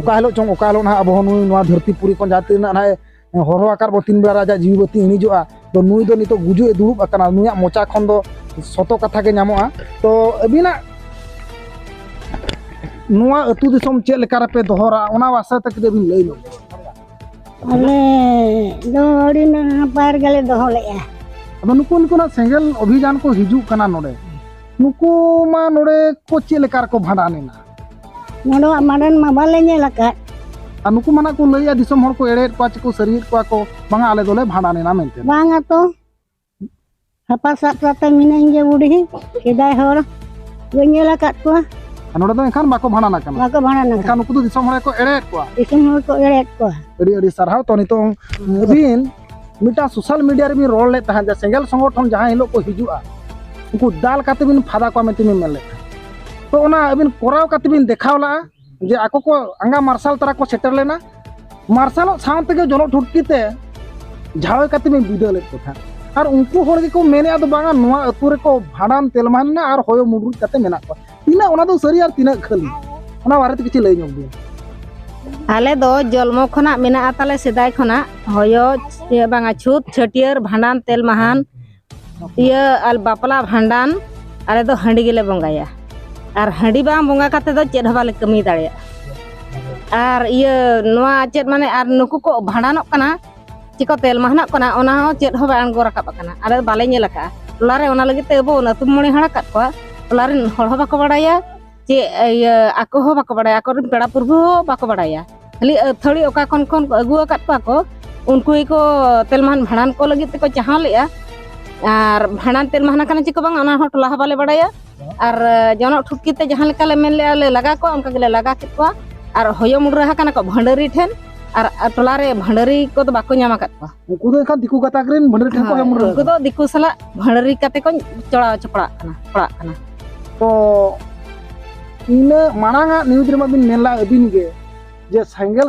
ᱚᱠᱟ ᱦᱤᱞᱳᱜ ᱪᱚᱝ ᱚᱠᱟ ᱦᱤᱞᱳᱜ ᱱᱟᱦᱟᱜ ᱟᱵᱚ ᱦᱚᱸ ᱱᱩᱭ ᱱᱚᱣᱟ ᱫᱷᱟᱹᱨᱛᱤ ᱯᱩᱨᱤ ᱠᱷᱚᱱ ᱡᱟᱦᱟᱸ ᱛᱤᱱᱟᱹᱜ ᱱᱟᱦᱟᱜ ᱦᱚᱨᱚ ᱟᱠᱟᱨ ᱵᱚ ᱛᱤᱱ ᱵᱮᱲᱟ ᱟᱡᱟᱜ ᱡᱤᱣᱤ ᱵᱟᱹᱛᱤ ᱤᱬᱤᱡᱚᱜᱼᱟ ᱛᱚ ᱱᱩᱭ ᱫᱚ ᱱᱤᱛᱚᱜ ᱜᱩᱡᱩᱜ ᱮ ᱫᱩᱲᱩᱵ ᱟᱠᱟᱱᱟ ᱱᱩᱭᱟᱜ ᱢᱚᱪᱟ ᱠᱷᱚᱱ ᱫᱚ ᱥᱚᱛᱚ ᱠᱟᱛᱷᱟ ᱜᱮ ᱧᱟᱢᱚᱜᱼᱟ ᱛᱚ ᱟᱹᱵᱤᱱᱟᱜ ᱱᱚᱣᱟ ᱟᱹᱛᱩ ᱫᱤᱥᱚᱢ ᱪᱮᱫ ᱞᱮᱠᱟ ᱨᱮᱯᱮ ᱫᱚᱦᱚᱨᱟ ᱚᱱᱟ ᱵᱟᱥᱟ ᱛᱮ ᱠᱟᱹᱴᱤᱡ ᱵᱤᱱ ᱞᱟᱹᱭ ᱧᱚᱜ ᱟᱞᱮ ᱫᱚ ᱟᱹᱰᱤ ᱱᱟᱯᱟᱭ ᱨᱮᱜᱮᱞᱮ
ᱫᱚᱦᱚ ᱞᱮᱫᱼᱟ ᱟᱫᱚ ᱱᱩᱠᱩ
ᱱᱩᱠᱩᱱᱟᱜ ᱥᱮᱸᱜᱮᱞ ᱚᱵᱷᱤᱡᱟᱱ ᱠᱚ ᱦᱤᱡᱩᱜ ᱠᱟᱱᱟ ᱱᱚᱰᱮ ᱱᱩᱠᱩ ᱢᱟ ᱱᱚᱰᱮ ᱠᱚ ᱪᱮᱫ ᱞᱮᱠᱟ ᱨᱮᱠᱚ ᱵᱷᱟᱸᱰᱟᱱ ᱮᱱᱟ ᱱᱚᱰᱮᱣᱟᱜ
ᱢᱟᱰᱮᱱ ᱢᱟ ᱵᱟᱞᱮ ᱧᱮᱞ ᱟᱠᱟᱫ ᱟᱨ ᱱᱩᱠᱩ
ᱢᱟᱱᱟ ᱠᱚ ᱞᱟᱹᱭᱟ ᱫᱤᱥᱚᱢ ᱦᱚᱲ ᱠᱚ ᱮᱲᱮᱭᱮᱫ ᱠᱚᱣᱟ ᱪᱮᱠᱚ ᱥᱟᱹᱨᱤᱭᱮᱫ ᱠᱚᱣᱟ ᱠᱚ ᱵᱟᱝᱟ ᱟᱞᱮ ᱫᱚᱞᱮ ᱵᱷᱟᱸᱰᱟᱱᱮᱱᱟ ᱢᱮᱱᱛᱮ ᱵᱟᱝᱟ ᱛᱚ
ᱦᱟᱯᱟ ᱥᱟᱵ ᱠᱟᱛᱮ ᱢᱤᱱᱟᱹᱧ ᱜᱮ ᱵᱩᱰᱷᱤ ᱥᱮᱫᱟᱭ ᱦᱚᱲ ᱵᱟᱹᱧ ᱧᱮᱞ ᱟᱠᱟᱫ ᱠᱚᱣᱟ ᱟᱨ ᱱᱚᱰᱮ ᱫᱚ ᱮᱱᱠᱷᱟᱱ
ᱵᱟᱠᱚ ᱵᱷᱟᱸᱰᱟᱱ ᱟᱠᱟᱱᱟ ᱵᱟᱠᱚ ᱵᱷᱟᱸᱰᱟᱱ ᱟᱠᱟᱱᱟ ᱮᱱᱠᱷᱟᱱ ᱱᱩᱠᱩ ᱫᱚ
ᱫᱤᱥᱚᱢ ᱦᱚᱲ ᱠᱚ
ᱮᱲᱮᱭᱮᱫ ᱠᱚᱣᱟ ᱫᱤᱥᱚᱢ ᱦᱚᱲ ᱠᱚ ᱮᱲᱮᱭᱮᱫ
ᱠᱚᱣᱟ ᱟᱹᱰᱤ ᱟᱹᱰᱤ ᱥᱟᱨᱦᱟᱣ ᱛᱚ
ᱱᱤᱛᱚᱝ ᱟᱹᱵᱤᱱ ᱢᱤᱫᱴᱟᱝ ᱥᱳᱥᱟᱞ ᱢᱤᱰᱤᱭᱟ ᱨᱮᱵᱤᱱ ᱨᱚᱲ ᱞᱮᱫ ᱛᱟᱦᱮᱸᱫ ᱡᱮ ᱥᱮᱸᱜᱮᱞ ᱥᱚᱝᱜᱚᱴᱷᱚᱱ ᱡᱟᱦᱟᱸ ᱦᱤᱞᱳᱜ ᱠᱚ ᱦᱤᱡᱩᱜᱼᱟ ᱩᱱᱠᱩ ᱫᱟᱞ ᱠᱟᱛᱮ ᱵᱤᱱ ᱯᱷᱟᱫᱟ ᱠᱚᱣᱟ ᱢᱮᱱᱛᱮ ᱵᱤᱱ ᱢᱮᱱ ᱞᱮᱫ ᱛᱟᱦᱮᱸᱫ ᱛᱚ ᱚᱱᱟ ᱟᱹᱵᱤᱱ ᱠᱚᱨᱟᱣ ᱠᱟᱛᱮ ᱵᱤᱱ ᱫᱮᱠᱷᱟᱣ ᱞᱟᱜᱼᱟ ᱡᱮ ᱟᱠᱚ ᱠᱚ ᱟᱸᱜᱟ ᱢᱟᱨᱥᱟᱞ ᱛᱟᱨᱟ ᱠᱚ ᱥᱮᱴᱮᱨ ᱞᱮᱱᱟ ᱢᱟᱨᱥᱟᱞᱚᱜ ᱥᱟᱶ ᱛᱮᱜᱮ ᱡᱚᱱᱚᱜ ᱴᱷᱩᱴᱠᱤ ᱛᱮ ᱡᱷᱟᱣᱮ ᱠᱟᱛᱮ ᱵᱤᱱ ᱵᱤᱫᱟᱹ ᱞᱮᱫ ᱠᱚ ᱛᱟᱦᱮᱸᱫ ᱟᱨ ᱩᱱᱠᱩ ᱦᱚᱲ ᱜᱮᱠᱚ ᱢᱮᱱᱮᱫᱼᱟ ᱫᱚ ᱵᱟᱝᱟ ᱱᱚᱣᱟ ᱟᱹᱛᱩ ᱨᱮᱠᱚ ᱵᱷᱟᱸᱰᱟᱱ ᱛᱮᱞᱢᱟ ᱢᱮᱱᱟᱜᱼᱟ ᱟᱨ ᱦᱚᱭᱚ ᱢᱩᱰᱨᱩᱡ ᱠᱟᱛᱮ ᱢᱮᱱᱟᱜ ᱠᱚᱣᱟ ᱛᱤᱱᱟᱹᱜ ᱚᱱᱟ ᱫᱚ ᱥᱟᱹᱨᱤ ᱟᱨ ᱛᱤᱱᱟᱹᱜ ᱠᱷᱟᱹᱞᱤ ᱚᱱᱟ ᱵᱟᱨᱮᱛᱮ ᱠᱤᱪᱷᱩ ᱞᱟᱹᱭ ᱧᱚᱜ ᱵᱤᱱ ᱟᱞᱮ
ᱫᱚ ᱡᱚᱞᱢᱚ ᱠᱷᱚᱱᱟᱜ ᱢᱮᱱᱟᱜᱼᱟ ᱛᱟᱞᱮ ᱥᱮᱫᱟᱭ ᱠᱷᱚᱱᱟᱜ ᱦᱚᱭᱚ ᱵᱟᱝᱟ ᱪᱷᱩᱛ ᱪᱷᱟᱹᱴᱭᱟᱹᱨ ᱵᱷᱟᱸᱰᱟᱱ ᱛᱮᱞ ᱢᱟᱦᱟᱱ ᱤᱭᱟᱹ ᱟᱨ ᱵᱟᱯᱞᱟ ᱵᱷᱟᱸᱰᱟᱱ ᱟᱞᱮ ᱫᱚ ᱦᱟᱺᱰᱤ ᱜᱮᱞᱮ ᱵᱚᱸᱜᱟᱭᱟ ᱟᱨ ᱦᱟᱺᱰᱤ ᱵᱟᱝ ᱵᱚᱸᱜᱟ ᱠᱟᱛᱮ ᱫᱚ ᱪᱮᱫ ᱦᱚᱸ ᱵᱟᱞᱮ ᱠᱟᱹᱢᱤ ᱫᱟᱲᱮᱭᱟᱜᱼᱟ ᱟᱨ ᱤᱭᱟᱹ ᱱᱚᱣᱟ ᱪᱮᱫ ᱢᱟᱱᱮ ᱟᱨ ᱱᱩᱠᱩ ᱠᱚ ᱵᱷᱟᱸᱰᱟᱱᱚᱜ ᱠᱟᱱᱟ ᱪᱮᱠᱚ ᱛᱮᱞ ᱢᱟᱦᱱᱟᱜ ᱠᱟᱱᱟ ᱚᱱᱟ ᱦᱚᱸ ᱪᱮᱫ ᱦᱚᱸ ᱵᱟᱭ ᱟᱬᱜᱚ ᱨᱟᱠᱟᱵ ᱟᱠᱟᱱᱟ ᱟᱞᱮ ᱫᱚ ᱵᱟᱞᱮ ᱧᱮᱞ ᱟᱠᱟᱫᱼᱟ ᱴᱚᱞᱟ ᱨᱮ ᱚᱱᱟ ᱞᱟᱹᱜᱤᱫ ᱛᱮ ᱟᱵᱚ ᱚᱱᱟ ᱟᱹᱛᱩ ᱢᱚᱬᱮ ᱦᱟᱲ ᱟᱠᱟᱫ ᱠᱚᱣᱟ ᱴᱚᱞᱟ ᱨᱮᱱ ᱦᱚᱲ ᱦᱚᱸ ᱵᱟᱠᱚ ᱵᱟᱲᱟᱭᱟ ᱪᱮ ᱤᱭᱟᱹ ᱟᱠᱚ ᱦᱚᱸ ᱵᱟᱠᱚ ᱵᱟᱲᱟᱭᱟ ᱟᱠᱚ ᱨᱮᱱ ᱯᱮᱲᱟ ᱯᱩᱨᱵᱷᱩ ᱦᱚᱸ ᱵᱟᱠᱚ ᱵᱟᱲᱟᱭᱟ ᱠᱷᱟᱹᱞᱤ ᱟᱹᱛᱷᱟᱹᱲᱤ ᱚᱠᱟ ᱠᱷᱚᱱ ᱠᱷᱚᱱ ᱠᱚ ᱟᱹᱜᱩ ᱟᱠᱟᱫ ᱠᱚᱣᱟ ᱠᱚ ᱩᱱᱠᱩ ᱜᱮᱠᱚ ᱛᱮᱞ ᱢᱟᱦᱟᱱ ᱵᱷᱟᱸᱰᱟᱱ ᱠᱚ ᱞᱟᱹᱜᱤᱫ ᱛᱮᱠᱚ ᱪᱟᱦᱟᱣ ᱞᱮᱫᱼᱟ ᱟᱨ ᱵᱷᱟᱸᱰᱟᱱ ᱛᱮᱞ ᱢᱟᱦᱱᱟ ᱠᱟᱱᱟ ᱪᱮᱠᱚ ᱵᱟᱝᱟ ᱚᱱᱟ ᱦᱚᱸ ᱴᱚᱞᱟ ᱦᱚᱸ ᱵᱟᱞᱮ ᱵᱟᱲᱟᱭᱟ ᱟᱨ ᱡᱚᱱᱚᱜ ᱴᱷᱩᱴᱠᱤ ᱛᱮ ᱡᱟᱦᱟᱸ ᱞᱮᱠᱟ ᱞᱮ ᱢᱮᱱ ᱞᱮᱜᱼᱟ ᱞᱮ ᱞᱟᱜᱟ ᱠᱚᱣᱟ ᱚᱱᱠᱟ ᱜᱮᱞᱮ ᱞᱟᱜᱟ ᱠᱮᱫ ᱠᱚᱣᱟ ᱟᱨ ᱦᱚᱭᱚ ᱢᱩᱰᱨᱟᱹ ᱟᱠᱟᱱᱟ ᱠᱚ ᱵᱷᱟᱺᱰᱟᱹᱨᱤ ᱴᱷᱮᱱ ᱟᱨ ᱴᱚᱞᱟ ᱨᱮ ᱵᱷᱟᱺᱰᱟᱹᱨᱤ ᱠᱚᱫᱚ ᱵᱟᱠᱚ ᱧᱟᱢ ᱟᱠᱟᱫ ᱠᱚᱣᱟ ᱩᱱᱠᱩ ᱫᱚ ᱮᱱᱠᱷᱟᱱ ᱫᱤᱠᱩ ᱜᱟᱛᱟᱠ
ᱨᱮᱱ ᱵᱷᱟᱺᱰᱟᱹᱨᱤ ᱴᱷᱮᱱ ᱠᱚ ᱦᱚᱭᱚ ᱢᱩᱰᱨᱟᱹ ᱩᱱᱠᱩ ᱫᱚ ᱫᱤᱠᱩ ᱥᱟᱞᱟᱜ
ᱵᱷᱟᱺᱰᱟᱹᱨᱤ ᱠᱟᱛᱮ ᱠᱚ ᱪᱚᱲᱟᱣ ᱪᱚᱯᱲᱟᱜ ᱠᱟᱱᱟ ᱯᱟᱲᱟᱜ ᱠᱟᱱᱟ ᱛᱚ
ᱤᱱᱟᱹ ᱢᱟᱲᱟᱝ ᱟᱜ ᱱᱤᱭᱩᱡᱽ ᱨᱮᱢᱟ ᱵᱤᱱ ᱢᱮᱱ ᱞᱮᱫᱼᱟ ᱟᱹᱵᱤᱱ ᱜᱮ ᱡᱮ ᱥᱮᱸᱜᱮᱞ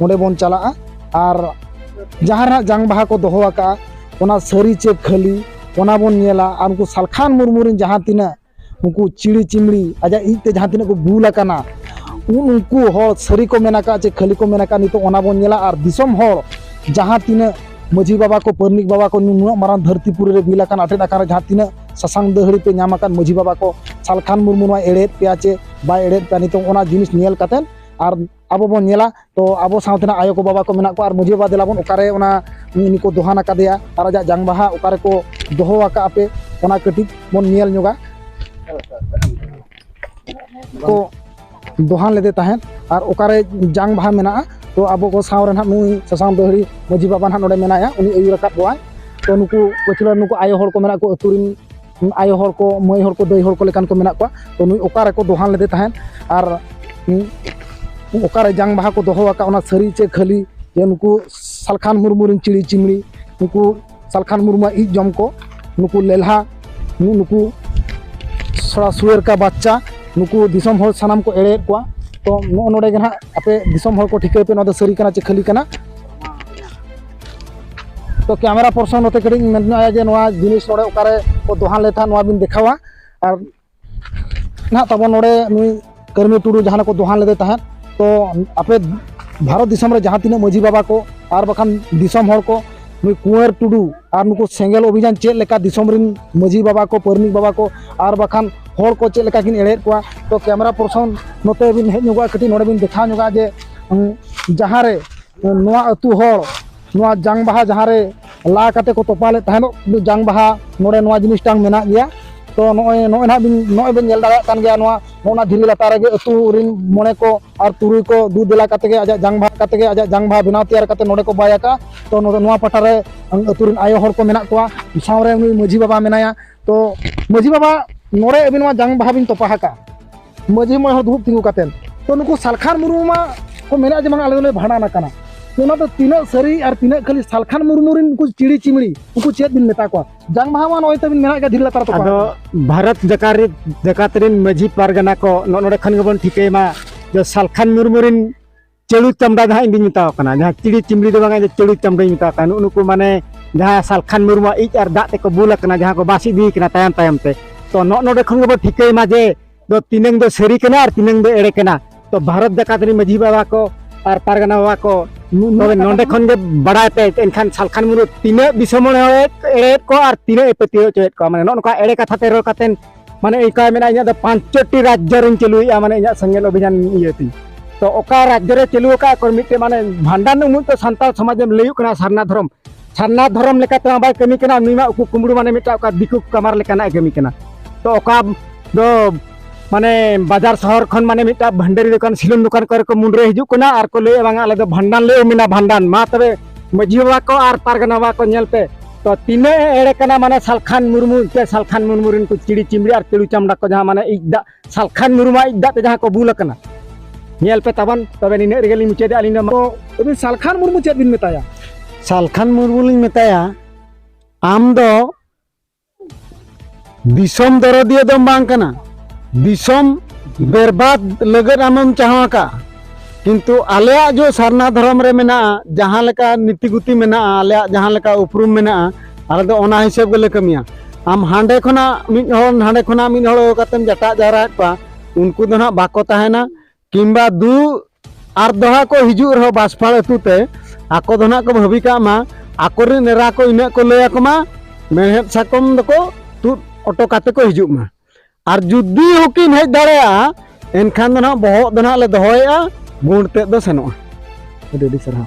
ᱚᱸᱰᱮ ᱵᱚᱱ ᱪᱟᱞᱟᱜᱼᱟ ᱟᱨ ᱡᱟᱦᱟᱸ ᱨᱮ ᱡᱟᱝ ᱵᱟᱦᱟ ᱠᱚ ᱫᱚᱦᱚ ᱟᱠᱟᱜᱼᱟ ᱚᱱᱟ ᱥᱟᱹᱨᱤ ᱪᱮ ᱠᱷᱟᱹᱞᱤ ᱚᱱᱟ ᱵᱚᱱ ᱧᱮᱞᱟ ᱟᱨ ᱩᱱᱠᱩ ᱥᱟᱞᱠᱷᱟᱱ ᱢᱩᱨᱢᱩ ᱨᱮᱱ ᱡᱟᱦᱟᱸ ᱛᱤᱱᱟᱹᱜ ᱩᱱᱠᱩ ᱪᱤᱲᱤ ᱪᱤᱢᱲᱤ ᱟᱡᱟᱜ ᱤᱡ ᱛᱮ ᱡᱟᱦᱟᱸ ᱛᱤᱱᱟᱹᱜ ᱠᱚ ᱵᱩᱞ ᱟᱠᱟᱱᱟ ᱩᱱ ᱩᱱᱠᱩ ᱦᱚᱲ ᱥᱟᱹᱨᱤ ᱠᱚ ᱢᱮᱱ ᱟᱠᱟᱫ ᱪᱮ ᱠᱷᱟᱹᱞᱤ ᱠᱚ ᱢᱮᱱ ᱟᱠᱟᱫ ᱱᱤᱛᱚᱜ ᱚᱱᱟ ᱵᱚᱱ ᱧᱮᱞᱟ ᱟᱨ ᱫᱤᱥᱚᱢ ᱦᱚᱲ ᱡᱟᱦᱟᱸ ᱛᱤᱱᱟᱹᱜ ᱢᱟᱹᱡᱷᱤ ᱵᱟᱵᱟ ᱠᱚ ᱯᱟᱹᱨᱱᱤᱠ ᱵᱟᱵᱟ ᱠᱚ ᱱᱩᱱᱟᱹᱜ ᱢᱟᱨᱟᱝ ᱫᱷᱟᱹᱨᱛᱤ ᱯᱩᱨᱤ ᱨᱮ ᱵᱤᱞ ᱟᱠᱟᱱ ᱟᱴᱮᱫ ᱟᱠᱟᱱ ᱡᱟᱦᱟᱸ ᱛᱤᱱᱟᱹᱜ ᱥᱟᱥᱟᱝ ᱫᱟᱹᱦᱲᱤ ᱯᱮ ᱧᱟᱢ ᱟᱠᱟᱱ ᱢᱟᱹᱡᱷᱤ ᱵᱟᱵᱟ ᱠᱚ ᱥᱟᱞᱠᱷᱟᱱ ᱢᱩᱨᱢᱩ ᱱᱚᱣᱟ ᱮᱲᱮᱭᱮᱫ ᱯᱮᱭᱟ ᱪᱮ ᱵᱟᱭ ᱮᱲᱮᱭᱮᱫ ᱯᱮᱭᱟ ᱱᱤᱛᱚᱜ ᱚᱱᱟ ᱡᱤᱱᱤᱥ ᱧᱮᱞ ᱠᱟᱛᱮᱫ ᱟᱨ ᱟᱵᱚ ᱵᱚᱱ ᱧᱮᱞᱟ ᱛᱚ ᱟᱵᱚ ᱥᱟᱶᱛᱮᱱᱟᱜ ᱟᱭᱳ ᱠᱚ ᱵᱟᱵᱟ ᱠᱚ ᱢᱮᱱᱟᱜ ᱠᱚᱣᱟ ᱟᱨ ᱢᱟᱺᱡᱷᱤ ᱵᱟᱵᱟ ᱫᱮᱞᱟᱵᱚᱱ ᱚᱠᱟᱨᱮ ᱚᱱᱟ ᱩᱱᱤ ᱠᱚ ᱫᱚᱦᱟᱱ ᱟᱠᱟᱫᱮᱭᱟ ᱟᱨ ᱟᱡᱟᱜ ᱡᱟᱝ ᱵᱟᱦᱟ ᱚᱠᱟᱨᱮ ᱠᱚ ᱫᱚᱦᱚ ᱟᱠᱟᱫ ᱟᱯᱮ ᱚᱱᱟ ᱠᱟᱹᱴᱤᱡ ᱵᱚᱱ ᱧᱮᱞ ᱧᱚᱜᱟ ᱠᱚ ᱫᱚᱦᱟᱱ ᱞᱮᱫᱮ ᱛᱟᱦᱮᱸᱫ ᱟᱨ ᱚᱠᱟᱨᱮ ᱡᱟᱝ ᱵᱟᱦᱟ ᱢᱮᱱᱟᱜᱼᱟ ᱛᱚ ᱟᱵᱚ ᱠᱚ ᱥᱟᱶ ᱨᱮ ᱱᱟᱦᱟᱜ ᱱᱩᱭ ᱥᱟᱥᱟᱝ ᱫᱟᱹᱦᱲᱤ ᱢᱟᱺᱡᱷᱤ ᱵᱟᱵᱟ ᱱᱟᱦᱟᱜ ᱱᱚᱰᱮ ᱢᱮᱱᱟᱭᱟ ᱩᱱᱤ ᱟᱹᱭᱩᱨ ᱟᱠᱟᱫ ᱠᱚᱣᱟᱭ ᱛᱚ ᱱᱩᱠᱩ ᱯᱟᱹᱪᱷᱞᱟᱹ ᱱᱩᱠᱩ ᱟᱭᱳ ᱦᱚᱲ ᱠᱚ ᱢᱮᱱᱟᱜ ᱠᱚ ᱟᱹᱛᱩ ᱨᱤᱱ ᱟᱭᱳ ᱦᱚᱲ ᱠᱚ ᱢᱟᱹᱭ ᱦᱚᱲ ᱠᱚ ᱫᱟᱹᱭ ᱦᱚᱲ ᱠᱚ ᱞᱮᱠᱟᱱ ᱠᱚ ᱢᱮᱱᱟᱜ ᱠᱚᱣᱟ ᱛᱚ ᱱᱩᱭ ᱚᱠᱟ ᱨᱮᱠᱚ ᱫᱚᱦᱟᱱ ᱞᱮᱫᱮ ᱛᱟᱦᱮᱸᱫ ᱟᱨ ᱚᱠᱟᱨᱮ ᱡᱟᱝ ᱵᱟᱦᱟ ᱠᱚ ᱫᱚᱦᱚ ᱟᱠᱟᱫ ᱚᱱᱟ ᱥᱟᱹᱨᱤ ᱪᱮ ᱠᱷᱟᱹᱞᱤ ᱡᱮ ᱱᱩᱠᱩ ᱥᱟᱞᱠᱷᱟᱱ ᱢᱩᱨᱢᱩ ᱨᱮᱱ ᱪᱤᱲᱤ ᱪᱤᱢᱲᱤ ᱱᱩᱠᱩ ᱥᱟᱞᱠᱷᱟᱱ ᱢᱩᱨᱢᱩᱣᱟᱜ ᱤᱡ ᱡᱚᱢ ᱠᱚ ᱱᱩᱠᱩ ᱞᱮᱞᱦᱟ ᱱᱩᱠᱩ ᱥᱚᱲᱟ ᱥᱩᱭᱮᱨ ᱠᱟ ᱵᱟᱪᱪᱟ ᱱᱩᱠᱩ ᱫᱤᱥᱚᱢ ᱦᱚᱲ ᱥᱟᱱᱟᱢ ᱠᱚ ᱮᱲᱮᱭᱮᱫ ᱠᱚᱣᱟ ᱛᱚ ᱱᱚᱜᱼᱚ ᱱᱚᱰᱮ ᱜᱮ ᱱᱟᱦᱟᱜ ᱟᱯᱮ ᱫᱤᱥᱚᱢ ᱦᱚᱲ ᱠᱚ ᱴᱷᱤᱠᱟᱹᱭ ᱯᱮ ᱱᱚᱣᱟ ᱫᱚ ᱥᱟᱹᱨᱤ ᱠᱟᱱᱟ ᱪᱮ ᱠᱷᱟᱹᱞᱤ ᱠᱟᱱᱟ ᱛᱚ ᱠᱮᱢᱮᱨᱟ ᱯᱚᱨᱥᱚᱱ ᱱᱚᱛᱮ ᱠᱟᱹᱴᱤᱡ ᱤᱧ ᱢᱮᱱ ᱧᱚᱜᱼᱟ ᱡᱮ ᱱᱚᱣᱟ ᱡᱤᱱᱤᱥ ᱱᱚᱰᱮ ᱚᱠᱟᱨᱮ ᱠᱚ ᱫᱚᱦᱟᱱ ᱞᱮᱫ ᱛᱟᱦᱮᱸᱫ ᱱᱚᱣᱟ ᱵᱤᱱ ᱫᱮᱠᱷᱟᱣᱟ ᱟᱨ ᱱᱟᱦᱟᱜ ᱛᱟᱵᱚᱱ ᱱᱚᱰᱮ ᱱᱩᱭ ᱠᱟᱹᱨᱢᱤ ᱴᱩᱰᱩ ᱡᱟᱦᱟᱸ ᱠᱚ ᱫᱚᱦᱟᱱ ᱞᱮᱫᱮ ᱛᱟᱦᱮᱸᱫ ᱛᱚ ᱟᱯᱮ ᱵᱷᱟᱨᱚᱛ ᱫᱤᱥᱚᱢ ᱨᱮ ᱡᱟᱦᱟᱸ ᱛᱤᱱᱟᱹᱜ ᱢᱟᱹᱡᱷᱤ ᱵᱟᱵᱟ ᱠᱚ ᱟᱨ ᱵᱟᱠᱷᱟᱱ ᱫᱤᱥᱚᱢ ᱦᱚᱲ ᱠᱚ ᱱᱩᱭ ᱠᱩᱸᱣᱟᱨ ᱴᱩᱰᱩ ᱟᱨ ᱱᱩᱠᱩ ᱥᱮᱸᱜᱮᱞ ᱚᱵᱷᱤᱡᱟᱱ ᱪᱮᱫ ᱞᱮᱠᱟ ᱫᱤᱥᱚᱢ ᱨᱮᱱ ᱢᱟᱹᱡᱷᱤ ᱵᱟᱵᱟ ᱠᱚ ᱯᱟᱹᱨᱱᱤᱠ ᱵᱟᱵᱟ ᱠᱚ ᱟᱨ ᱵᱟᱠᱷᱟᱱ ᱦᱚᱲ ᱠᱚ ᱪᱮᱫ ᱞᱮᱠᱟ ᱠᱤᱱ ᱮᱲᱮᱫ ᱠᱚᱣᱟ ᱛᱚ ᱠᱮᱢᱮᱨᱟ ᱯᱚᱨᱥᱚᱱ ᱱᱚᱛᱮ ᱵᱤᱱ ᱦᱮᱡ ᱧᱚᱜᱚᱜᱼᱟ ᱠᱟᱹᱴᱤᱡ ᱱᱚᱰᱮ ᱵᱤᱱ ᱫᱮᱠᱷᱟᱣ ᱧᱚᱜᱟ ᱡᱮ ᱡᱟᱦᱟᱸ ᱨᱮ ᱱᱚᱣᱟ ᱟᱹᱛᱩ ᱦᱚᱲ ᱱᱚᱣᱟ ᱡᱟᱝ ᱵᱟᱦᱟ ᱡᱟᱦᱟᱸ ᱨᱮ ᱞᱟ ᱠᱟᱛᱮ ᱠᱚ ᱛᱚᱯᱟ ᱞᱮᱫ ᱛᱟᱦᱮᱱᱚᱜ ᱡᱟᱝ ᱵᱟᱦᱟ ᱱᱚᱰᱮ ᱱᱚᱣᱟ ᱡᱤᱱᱤᱥᱴᱟᱝ ᱢᱮᱱᱟᱜ ᱜᱮᱭᱟ ᱛᱚ ᱱᱚᱜᱼᱚᱭ ᱱᱚᱜᱼᱚᱭ ᱱᱟᱦᱟᱜ ᱵᱤᱱ ᱱᱚᱜᱼᱚᱭ ᱵᱤᱱ ᱧᱮᱞ ᱫᱟᱲᱮᱭᱟᱜ ᱠᱟᱱ ᱜᱮᱭᱟ ᱱᱚᱣᱟ ᱱᱚᱜᱼᱚ ᱱᱟ ᱫᱷᱤᱨᱤ ᱞᱟᱛᱟᱨ ᱨᱮᱜᱮ ᱟᱹᱛᱩ ᱨᱤᱱ ᱢᱚᱬᱮ ᱠᱚ ᱟᱨ ᱛᱩᱨᱩᱭ ᱠᱚ ᱫᱩ ᱫᱮᱞᱟ ᱠᱟᱛᱮ ᱜᱮ ᱟᱡᱟᱜ ᱡᱟᱝ ᱵᱟᱦᱟ ᱠᱟᱛᱮ ᱜᱮ ᱟᱡᱟᱜ ᱡᱟᱝ ᱵᱟᱦᱟ ᱵᱮᱱᱟᱣ ᱛᱮᱭᱟᱨ ᱠᱟᱛᱮ ᱱᱚᱰᱮ ᱠᱚ ᱵᱟᱭ ᱟᱠᱟᱜᱼᱟ ᱛᱚ ᱱᱚᱰᱮ ᱱᱚᱣᱟ ᱯᱟᱴᱟ ᱨᱮ ᱟᱹᱛᱩ ᱨᱤᱱ ᱟᱭᱳ ᱦᱚᱲ ᱠᱚ ᱢᱮᱱᱟᱜ ᱠᱚᱣᱟ ᱥᱟᱶᱨᱮ ᱩᱱᱤ ᱢᱟᱹᱡᱷᱤ ᱵᱟᱵᱟ ᱢᱮᱱᱟᱭᱟ ᱛᱚ ᱢᱟᱹᱡᱷᱤ ᱵᱟᱵᱟ ᱱᱚᱰᱮ ᱟᱹᱵᱤᱱ ᱱᱚᱣᱟ ᱡᱟᱝ ᱵᱟᱦᱟ ᱵᱤᱱ ᱛᱚᱯᱟ ᱟᱠᱟᱜᱼᱟ ᱢᱟᱹᱡᱷᱤ ᱢᱚᱬᱮ ᱦᱚᱲ ᱫᱩᱲᱩᱵ ᱛᱤᱸᱜᱩ ᱠᱟᱛᱮ ᱛᱚ ᱱᱩᱠᱩ ᱥᱟᱞᱠᱷᱟᱱ ᱢᱩᱨᱢᱩ ᱢᱟ ᱠᱚ ᱢᱮᱱᱟ ᱡᱮ ᱵᱟᱝ ᱟᱞᱮ ᱫᱚᱞᱮ ᱵᱷᱟᱸᱰᱟᱱ ᱟᱠᱟᱱᱟ ᱚᱱᱟ ᱫᱚ ᱛᱤᱱᱟᱹᱜ ᱥᱟᱹᱨᱤ ᱟᱨ ᱛᱤᱱᱟᱹᱜ ᱠᱷᱟᱹᱞᱤ ᱥᱟᱞᱠᱷᱟᱱ ᱢᱩᱨᱢᱩ ᱨᱮᱱ ᱩᱱᱠᱩ ᱪᱤᱲᱤ ᱪᱤᱢᱲᱤ ᱩᱱᱠᱩ ᱪᱮᱫ ᱵᱤᱱ ᱢᱮᱛᱟ ᱠᱚᱣᱟ ᱡᱟᱝ ᱵᱟᱦᱟ ᱢᱟ ᱱᱚᱜᱼᱚᱭ ᱛᱟᱵᱤᱱ ᱢᱮᱱᱟᱜ ᱜᱮᱭᱟ ᱫᱷᱤᱨᱤ ᱞᱟᱛᱟᱨ ᱛᱟᱠᱚ ᱟᱫᱚ ᱵᱷᱟᱨᱚᱛ
ᱡᱟᱠᱟᱛ ᱨᱮ ᱡᱟᱠᱟᱛ ᱨᱮᱱ ᱢᱟᱹᱡᱷᱤ ᱯᱟᱨᱜᱟᱱᱟ ᱠᱚ ᱱᱚᱜᱼᱚ ᱱᱚᱰᱮ ᱠᱷᱚᱱ ᱜᱮᱵᱚᱱ ᱴᱷᱤᱠᱟᱹᱭ ᱢᱟ ᱡᱮ ᱥᱟᱞᱠᱷᱟᱱ ᱢᱩᱨᱢᱩ ᱨᱮᱱ ᱪᱟᱹᱲᱩ ᱪᱟᱢᱰᱟ ᱡᱟᱦᱟᱸ ᱤᱧ ᱫᱩᱧ ᱢᱮᱛᱟᱣ ᱠᱟᱱᱟ ᱡᱟᱦᱟᱸ ᱪᱤᱲᱤ ᱪᱤᱢᱲᱤ ᱫᱚ ᱵᱟᱝ ᱤᱧ ᱪᱟᱹᱲᱩ ᱪᱟᱢᱰᱟᱧ ᱢᱮᱛᱟᱣ ᱠᱟᱱᱟ ᱱᱩᱜ ᱱᱩᱠᱩ ᱢᱟᱱᱮ ᱡᱟᱦᱟᱸ ᱥᱟᱞᱠᱷᱟᱱ ᱢᱩᱨᱢᱩᱣᱟᱜ ᱤᱡ ᱟᱨ ᱫᱟᱜ ᱛᱮᱠᱚ ᱵᱩᱞ ᱟᱠᱟᱱᱟ ᱡᱟᱦᱟᱸ ᱠᱚ ᱵᱟᱥ ᱤᱫᱤ ᱠᱟᱱᱟ ᱛᱟᱭᱚᱢ ᱛᱟᱭᱚᱢ ᱛᱮ ᱛᱚ ᱱᱚᱜ ᱱᱚᱰᱮ ᱠᱷᱚᱱ ᱜᱮᱵᱚ ᱴᱷᱤᱠᱟᱹᱭ ᱢᱟ ᱡᱮ ᱫᱚ ᱛᱤᱱᱟᱹᱝ ᱫᱚ ᱥᱟᱹᱨᱤ ᱠᱟᱱᱟ ᱟᱨ ᱛᱤᱱᱟᱹᱝ ᱫᱚ ᱮᱲᱮ ᱠᱟᱱᱟ ᱛᱚ ᱵᱷᱟᱨᱚᱛ ᱡᱟᱠᱟᱛ ᱨᱤᱱ ᱢᱟᱹᱡᱷᱤ ᱵᱟᱵᱟ ᱠᱚ ᱟᱨ ᱯᱟᱨᱜᱟᱱᱟ ᱵᱟᱵᱟ ᱠᱚ ᱛᱚᱵᱮ ᱱᱚᱰᱮ ᱠᱷᱚᱱ ᱜᱮ ᱵᱟᱲᱟᱭ ᱯᱮ ᱮᱱᱠᱷᱟᱱ ᱥᱟᱞᱠᱷᱟᱱ ᱢᱩᱨᱢᱩ ᱛᱤᱱᱟᱹᱜ ᱫᱤᱥᱚᱢ ᱦᱚᱲ ᱮᱲᱮᱭᱮᱫ ᱠᱚ ᱟᱨ ᱛᱤᱱᱟᱹᱜ ᱮ ᱯᱟᱹᱛᱭᱟᱹᱣ ᱦᱚᱪᱚᱭᱮᱫ ᱠᱚᱣᱟ ᱢᱟᱱᱮ ᱱᱚᱜ ᱱᱚᱝᱠᱟ ᱮᱲᱮ ᱠᱟᱛᱷᱟ ᱛᱮ ᱨᱚᱲ ᱠᱟᱛᱮ ᱢᱟᱱᱮ ᱚᱱᱠᱟ ᱢᱮᱱᱟᱜᱼᱟ ᱤᱧᱟᱹᱜ ᱫᱚ ᱯᱟᱸᱪᱴᱤ ᱨᱟᱡᱽᱡᱚ ᱨᱤᱧ ᱪᱟᱹᱞᱩᱭᱮᱫᱼᱟ ᱢᱟᱱᱮ ᱤᱧᱟᱹᱜ ᱥᱮᱸᱜᱮᱞ ᱚᱵᱷᱤᱡᱟᱱ ᱤᱭᱟᱹ ᱛᱤᱧ ᱛᱚ ᱚᱠᱟ ᱨᱟᱡᱽᱡᱚ ᱨᱮ ᱪᱟᱹᱞᱩ ᱟᱠᱟᱫ ᱠᱚ ᱢᱤᱫᱴᱮᱱ ᱢᱟᱱᱮ ᱵᱷᱟᱸᱰᱟᱱ ᱩᱢᱩᱜ ᱫᱚ ᱥᱟᱱᱛᱟᱲ ᱥᱚᱢᱟᱡᱽ ᱮᱢ ᱞᱟᱹᱭᱚᱜ ᱠᱟᱱᱟ ᱥᱟᱨᱱᱟ ᱫᱷᱚᱨᱚᱢ ᱥᱟᱨᱱᱟ ᱫᱷᱚᱨᱚᱢ ᱞᱮᱠᱟᱛᱮ ᱵᱟᱭ ᱠᱟᱹᱢᱤ ᱠᱟᱱᱟ ᱩᱱᱤ ᱢᱟ ᱩᱠᱩ ᱠᱩᱢᱲᱩ ᱢᱟᱱᱮ ᱢᱤᱫᱴᱟᱝ ᱚᱠᱟ ᱫᱤᱠᱩ ᱠᱟᱢᱟᱨ ᱞᱮᱠᱟᱱᱟᱜ ᱠᱟᱹᱢᱤ ᱠᱟᱱᱟ ᱛᱚ ᱚᱠᱟ ᱫᱚ ᱢᱟᱱᱮ ᱵᱟᱡᱟᱨ ᱥᱚᱦᱚᱨ ᱠᱷᱚᱱ ᱢᱟᱱᱮ ᱢᱤᱫᱴᱟᱝ ᱵᱷᱟᱱᱰᱟᱨᱤ ᱫᱚᱠᱟᱱ ᱥᱤᱞᱚᱱ ᱫᱚᱠᱟᱱ ᱠᱚᱨᱮ ᱠᱚ ᱢᱩᱱᱰᱨᱟᱹ ᱦᱤᱡᱩᱜ ᱠᱟᱱᱟ ᱟᱨ ᱠᱚ ᱞᱟᱹᱭᱮᱫᱼᱟ ᱵᱟᱝᱟ ᱟᱞᱮ ᱫᱚ ᱵᱷᱟᱸᱰᱟᱱ ᱞᱮ ᱩᱢᱮᱱᱟ ᱵᱷᱟᱸᱰᱟᱱ ᱢᱟ ᱛᱚᱵᱮ ᱢᱟᱹᱡᱷᱤ ᱵᱟᱵᱟ ᱠᱚ ᱟᱨ ᱯᱟᱨᱜᱟᱱᱟ ᱵᱟᱵᱟ ᱠᱚ ᱧᱮᱞ ᱯᱮ ᱛᱚ ᱛᱤᱱᱟᱹᱜ ᱮᱲᱮ ᱠᱟᱱᱟ ᱢᱟᱱᱮ ᱥᱟᱞᱠᱷᱟᱱ ᱢᱩᱨᱢᱩ ᱛᱮ ᱥᱟᱞᱠᱷᱟᱱ ᱢᱩᱨᱢᱩ ᱨᱮᱱ ᱠᱚ ᱪᱤᱲᱤ ᱪᱤᱢᱲᱤ ᱟᱨ ᱛᱤᱲᱩ ᱪᱟᱢᱲᱟ ᱠᱚ ᱡᱟᱦᱟᱸ ᱢᱟᱱᱮ ᱤᱡ ᱫᱟᱜ ᱥᱟᱞᱠᱷᱟᱱ ᱢᱩᱨᱢᱩ ᱤᱡ ᱫᱟᱜ ᱛᱮ ᱡᱟᱦᱟᱸ ᱠᱚ ᱵᱩᱞ ᱟᱠᱟᱱᱟ ᱧᱮᱞ ᱯᱮ ᱛᱟᱵᱚᱱ ᱛᱚᱵᱮ ᱱᱤᱱᱟᱹᱜ ᱨᱮᱜᱮ ᱞᱤᱧ ᱢᱩᱪᱟᱹᱫᱮᱜᱼᱟ ᱟᱹᱞᱤᱧ ᱫᱚ ᱟᱹᱵᱤᱱ ᱥᱟᱞᱠᱷᱟᱱ
ᱢᱩᱨᱢᱩ ᱪᱮᱫ ᱵᱤᱱ ᱢᱮᱛᱟᱭᱟ ᱥᱟᱞᱠᱷᱟᱱ
ᱢᱩᱨᱢᱩ ᱞᱤᱧ ᱢᱮᱛᱟᱭᱟ ᱟᱢ ᱫᱚ ᱫᱤᱥᱚᱢ ᱫᱚᱨᱚᱫᱤᱭᱟᱹ ᱫᱚᱢ ᱵᱟᱝ ᱠᱟᱱᱟ ᱫᱤᱥᱚᱢ ᱵᱮᱨᱵᱟᱫ ᱞᱟᱹᱜᱤᱫ ᱟᱢᱮᱢ ᱪᱟᱦᱟᱣ ᱟᱠᱟᱫᱼᱟ ᱠᱤᱱᱛᱩ ᱟᱞᱮᱭᱟᱜ ᱡᱚ ᱥᱟᱨᱱᱟ ᱫᱷᱚᱨᱚᱢ ᱨᱮ ᱢᱮᱱᱟᱜᱼᱟ ᱡᱟᱦᱟᱸ ᱞᱮᱠᱟ ᱱᱤᱛᱤ ᱜᱩᱛᱤ ᱢᱮᱱᱟᱜᱼᱟ ᱟᱞᱮᱭᱟᱜ ᱡᱟᱦᱟᱸ ᱞᱮᱠᱟ ᱩᱯᱨᱩᱢ ᱢᱮᱱᱟᱜᱼᱟ ᱟᱞᱮ ᱫᱚ ᱚᱱᱟ ᱦᱤᱥᱟᱹᱵ ᱜᱮᱞᱮ ᱠᱟᱹᱢᱤᱭᱟ ᱟᱢ ᱦᱟᱸᱰᱮ ᱠᱷᱚᱱᱟᱜ ᱢᱤᱫ ᱦᱚᱲ ᱱᱟᱸᱰᱮ ᱠᱷᱚᱱᱟᱜ ᱢᱤᱫ ᱦᱚᱲ ᱠᱟᱛᱮᱢ ᱡᱟᱴᱟᱜ ᱡᱟᱣᱨᱟᱭᱮᱫ ᱠᱚᱣᱟ ᱩᱱᱠᱩ ᱫᱚ ᱱᱟᱦᱟᱜ ᱵᱟᱠᱚ ᱛᱟᱦᱮᱱᱟ ᱠᱤᱢᱵᱟ ᱫᱩ ᱟᱨ ᱫᱚᱦᱟ ᱠᱚ ᱦᱤᱡᱩᱜ ᱨᱮᱦᱚᱸ ᱵᱟᱥᱯᱷᱟᱲ ᱟᱹᱛᱩ ᱛᱮ ᱟᱠᱚ ᱫᱚ ᱱᱟᱜ ᱠᱚ ᱵᱷᱟᱹᱵᱤ ᱠᱟᱜ ᱢᱟ ᱟᱠᱚᱨᱮᱱ ᱮᱨᱟ ᱠᱚ ᱤᱱᱟᱹᱜ ᱠᱚ ᱞᱟᱹᱭ ᱟᱠᱚ ᱢᱟ ᱢᱮᱬᱦᱮᱫ ᱥᱟᱠᱚᱢ ᱫᱚᱠᱚ ᱛᱩᱫ ᱚᱴᱚ ᱠᱟᱛᱮ ᱠᱚ ᱦᱤᱡᱩᱜ ᱢᱟ ᱟᱨ ᱡᱩᱫᱤ ᱦᱚᱸᱠᱤᱱ ᱦᱮᱡ ᱫᱟᱲᱮᱭᱟᱜᱼᱟ ᱮᱱᱠᱷᱟᱱ ᱫᱚ ᱱᱟᱜ ᱵᱚᱦᱚᱜ ᱫᱚ ᱱᱟᱜ ᱞᱮ ᱫᱚᱦᱚᱭᱮᱜᱼᱟ ᱵᱩᱬ ᱛᱮᱫ ᱫᱚ
ᱥᱮᱱᱚᱜᱼᱟ
ᱟᱹᱰᱤ ᱟᱹᱰᱤ ᱥᱟᱨᱦᱟᱣ